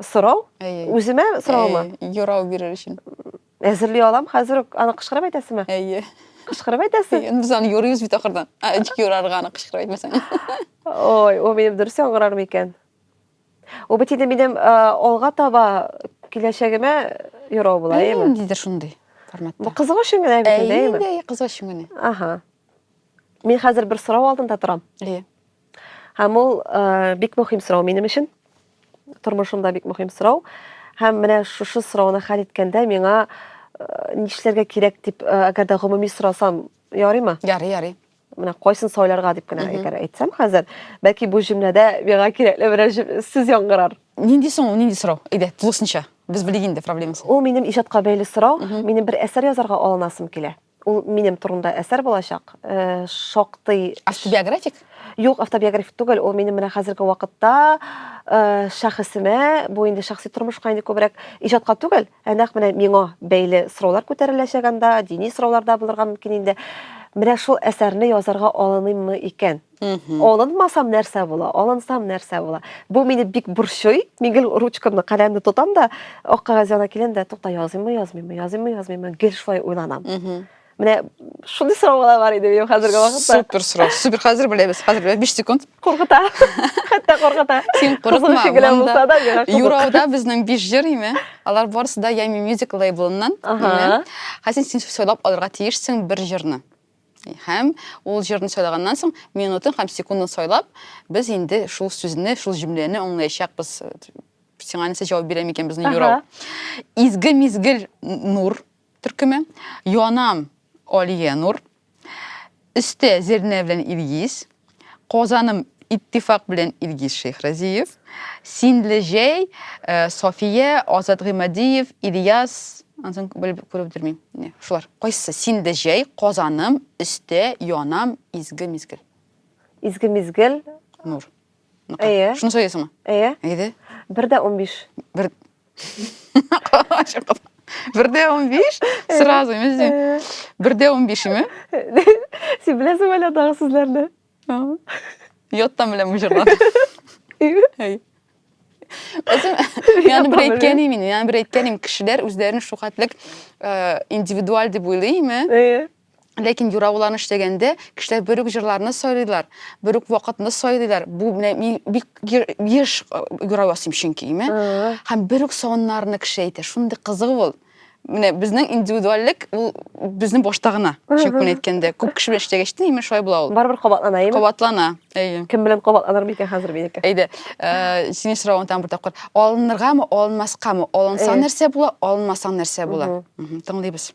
Сорау? Әйе. Үземә сораумы? Әйе, юрау бирер өчен. Әзерли алам, хәзер үк аны кычкырып әйтәсезме? Әйе. Кычкырып әйтәсез? Әйе, без аны юрыйбыз бит ахырдан. Ә, ничек юрарга аны кычкырып әйтмәсәң? Ой, ул минем дөрес яңгырар микән? Ул бит инде минем э, алга таба киләчәгемә юрау була, Әйе, әйеме? ниндидер шундый Бу форматта. кызык өчен генә бит, Әйе, әйеме? инде, әйе, кызык өчен генә. Аха. Мин хәзер бер сорау алдында торам. Әйе. Һәм ул э, бик мөһим сорау минем өчен. Тормышымда бик мөһим сорау. Һәм менә шушы сорауны хәл иткәндә миңа э, нишләргә кирәк дип, э, әгәр дә гомуми сорасам, ярыймы? Ярый, ярый. Менә кайсын сайларга дип кенә әгәр әйтсәм хәзер, бәлки бу җөмләдә миңа кирәкле берәр җөм- сүз яңгырар. Нинди соң, ул, нинди сорау? Әйдә, тулысынча. Без белик инде проблемасын. Ул минем иҗатка бәйле сорау. Минем бер әсәр язарга алынасым килә. Ул минем турында әсәр булачак. Э, шактый автобиографик? Юк, автобиографик түгел. Ул минем менә хәзерге вакытта э, шәхесемә, бу инде шәхси тормышка инде күбрәк иҗатка түгел, ә нәкъ менә миңа бәйле сораулар күтәреләчәк анда, дини сораулар да булырга мөмкин инде. Менә шул әсәрне язарга алыныммы икән? Алынмасам нәрсә була, алынсам нәрсә була. Бу мине бик борчый. Мин гел ручкамны, каләмне тотам да, ак кагаз янына киләм дә, тукта языйммы, язмыйммы, языйммы, язмыйммы, гел шулай уйланам. Менә шундый сораулар бар иде минем хәзерге вакытта. Супер сорау. Супер хәзер беләбез. Хәзер беләбез 5 секунд. Куркыта. Хәтта куркыта. Син курыкма. Генә булса да миңа куркыта. Юрауда безнең биш җыр име? Алар барысы да Ями Music лейблыннан. Ага. Хәзер син сойлап алырга тиешсең бер җырны. Һәм ул җырны сайлаганнан соң, минутын һәм секундын сайлап, без инде шул сүзне, шул җөмләне аңлаячакбыз. Сиңа нәрсә җавап бирә микән безнең юрау? Изге мизгел нур төркеме, янам Алия Нур, өстә Зернә белән Илгиз, Казаным иттифак белән Илгиз Шейхразиев, Синле җәй, э, София, Азат Гыймадиев, Ильяс, ансын белеп күреп бетермим. Не, шулар. Кайсы? Синле җәй, Казаным, Өстә, Янам, Изге мизгел. Изге мизгел. Нур. Әйе. Шуны сөйләсеңме? Әйе. Әйде. Бер дә унбиш. Бер бер дә унбиш сразу мен бер дә унбиш име сен беләсең әле андагы сүзләрне яттан беләм бу җырларны яны бер әйткән имин яны бер әйткән им кешеләр үзләрен шул хәтлек индивидуаль дип уйлый име Ләкин юра уларны эшләгәндә кешеләр бер үк җырларны сайлыйлар, бер үк вакытны сайлыйлар. Бу менә мин бик еш юра ясыйм чөнки, име? Һәм бер үк савыннарны кеше әйтә. Шундый кызык ул. Менә безнең индивидуальлек ул безнең башта гына. Чөнки әйткәндә, күп кеше белән эшләгәч тә, име шулай була ул. Барыбер кабатлана, име? Кабатлана. Әйе. Кем белән кабатланыр микән хәзер минеке? Әйдә, э, синең соравың тагын бер тапкыр. Алыныргамы, алынмаскамы? Алынсаң нәрсә була, алынмасаң нәрсә була? Тыңлыйбыз.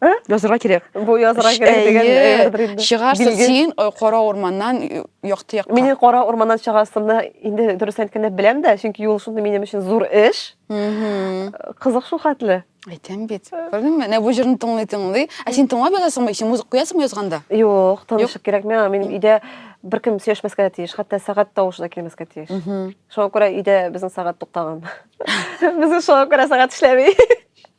Ә? Язырга кирәк. Бу язырга кирәк дигән әйбердер инде. Чыгарсың син э, кара урманнан э, якты якка. Мин кара урманнан чыгасымны инде дөрес әйткәндә беләм дә, чөнки юл шундый минем өчен зур эш. Кызык шул хәтле. Әйтәм бит. Күрдеңме? Менә бу җырны тыңлый тыңлый. Ә син тыңлап язасыңмы? Син музыка куясыңмы язганда? Юк, тынычлык кирәкми. Мин өйдә беркем сөйләшмәскә тиеш, хәтта сәгать тавышы да килмәскә тиеш. Шуңа күрә өйдә безнең сәгать туктаган. Безнең шуңа күрә сәгать эшләми.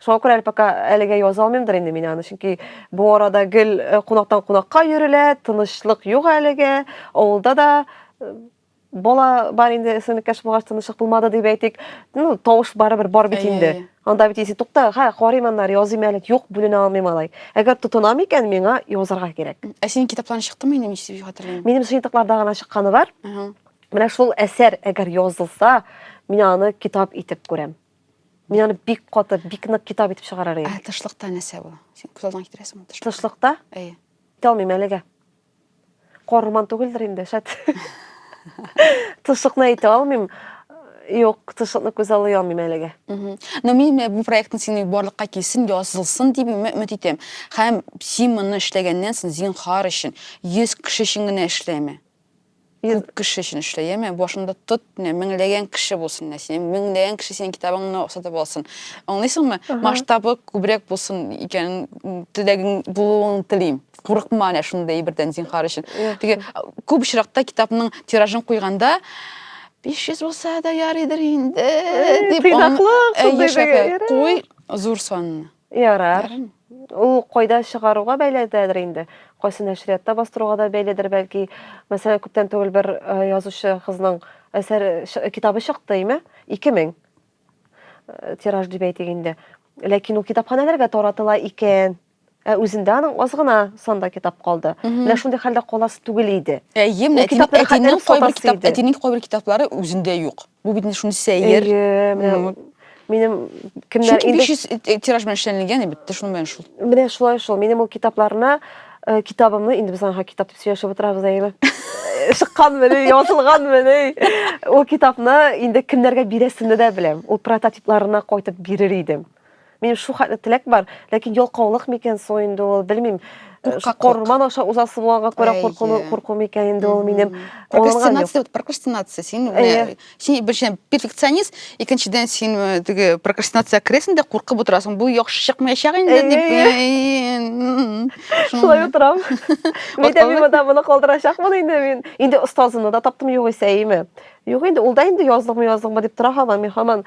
Шуңа күрә әле пока әлегә яза алмыймдыр инде мин аны, чөнки бу арада гел э, кунактан кунакка йөрелә, тынычлык юк әлегә, авылда да э, бала бар инде эсенкәш булгач тынычлык булмады дип әйтик. Ну, тавыш барыбер бар бит инде. Анда бит исе тукта, ха, карыйм аннары языйм әле, юк, бүленә алмыйм алай. Әгәр тотынам икән, миңа язарга кирәк. Ә синең китапларың чыктымы инде, ничек дип хәтерлим? Минем сыйныкларда гына чыкканы бар. Менә шул әсәр әгәр язылса, мин аны китап итеп күрәм. Мин аны бик каты, бик нык китап итеп чыгарар идем. Ә тышлыкта нәрсә бу? Син күз алдыңа китерәсең ул тышлыкта? Тышлыкта? Әйе. Китә алмыйм әлегә. Корман түгелдер инде, шәт. Тышлыкны әйтә алмыйм. Юк, тышлыкны күз алып алмыйм әлегә. Но мин э, бу проектны синең барлыкка килсен, язылсын дип өмет итәм. Һәм син моны эшләгәннән соң зинхар өчен 100 кеше өчен генә эшләме? Ир... Күп кеше өчен эшлә, яме, башыңда тот, менә меңләгән кеше булсын, менә синең меңләгән кеше синең китабыңны сатып алсын. Аңлыйсыңмы? Масштабы күбрәк булсын икәнен теләгең булуын телим. Курыкма менә шундый әйбердән зинхар өчен. Теге күп очракта китапның тиражын куйганда 500 булса да ярыйдыр инде дип. Тыйнаклык, куй зур санны. Ярар. Ул кайда чыгаруга бәйләдер инде. Кайсы нәшриятта бастыруга да бәйләдер бәлки. Мәсәлән, күптән түгел бер э, язучы кызның әсәр китабы чыкты, име? 2000 э, тираж дип әйтик инде. Ләкин ул китапханәләргә таратыла икән. Ә үзендә аның аз гына санда китап калды. Менә шундый хәлдә каласы түгел иде. Әйе, менә әтинең кайбер китаплары үзендә юк. Бу бит инде шуны сәер. Минем кемнәр инде 500 тираж белән эшләнелгән бит, ты шуны белән шул. Менә шулай шул. Минем ул китапларына э, китабымны инде без аңа китап дип сөйләшеп утырабыз әйеме? Шыккан менә, язылган менә. Ул китапны инде кемнәргә бирәсемне дә беләм. Ул прототипларына кайтып бирер идем. Минем шул хәтле теләк бар, ләкин ялкаулык микән соң инде ул, белмим. Э, Корман аша узасы булганга күрә куркуны курку микән инде ул минем. Прокрастинация, прокрастинация. Син э, син беренчедән перфекционист, икенчедән син э, теге прокрастинация керәсең дә куркып утырасың. Бу яхшы чыкмаячак инде дип. Шулай утырам. Мин дә мин монда моны калдырачакмын инде мин. Инде остазымны да таптым югыйсә, әйеме? Юк инде, ул да инде язлыкмы язлыкмы дип тора һаман, мин һаман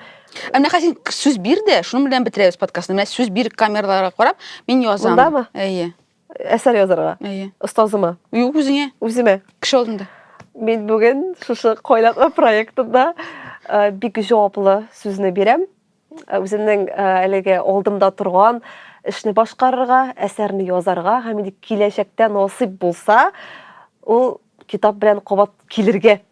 Ә менә хәзер сүз бир дә, шуның белән бетерәбез подкастны. Менә сүз бир камераларга карап, мин язам. Мондамы? Әйе. Әсәр язарга. Әйе. Остазыма. Юк, үзеңә. Үземә. Кеше алдында. Мин бүген шушы койлатма проектында э, бик җаваплы сүзне бирәм. Э, үземнең э, әлеге алдымда торган эшне башкарырга, әсәрне язарга һәм инде киләчәктә насыйп булса, ул китап белән кабат килергә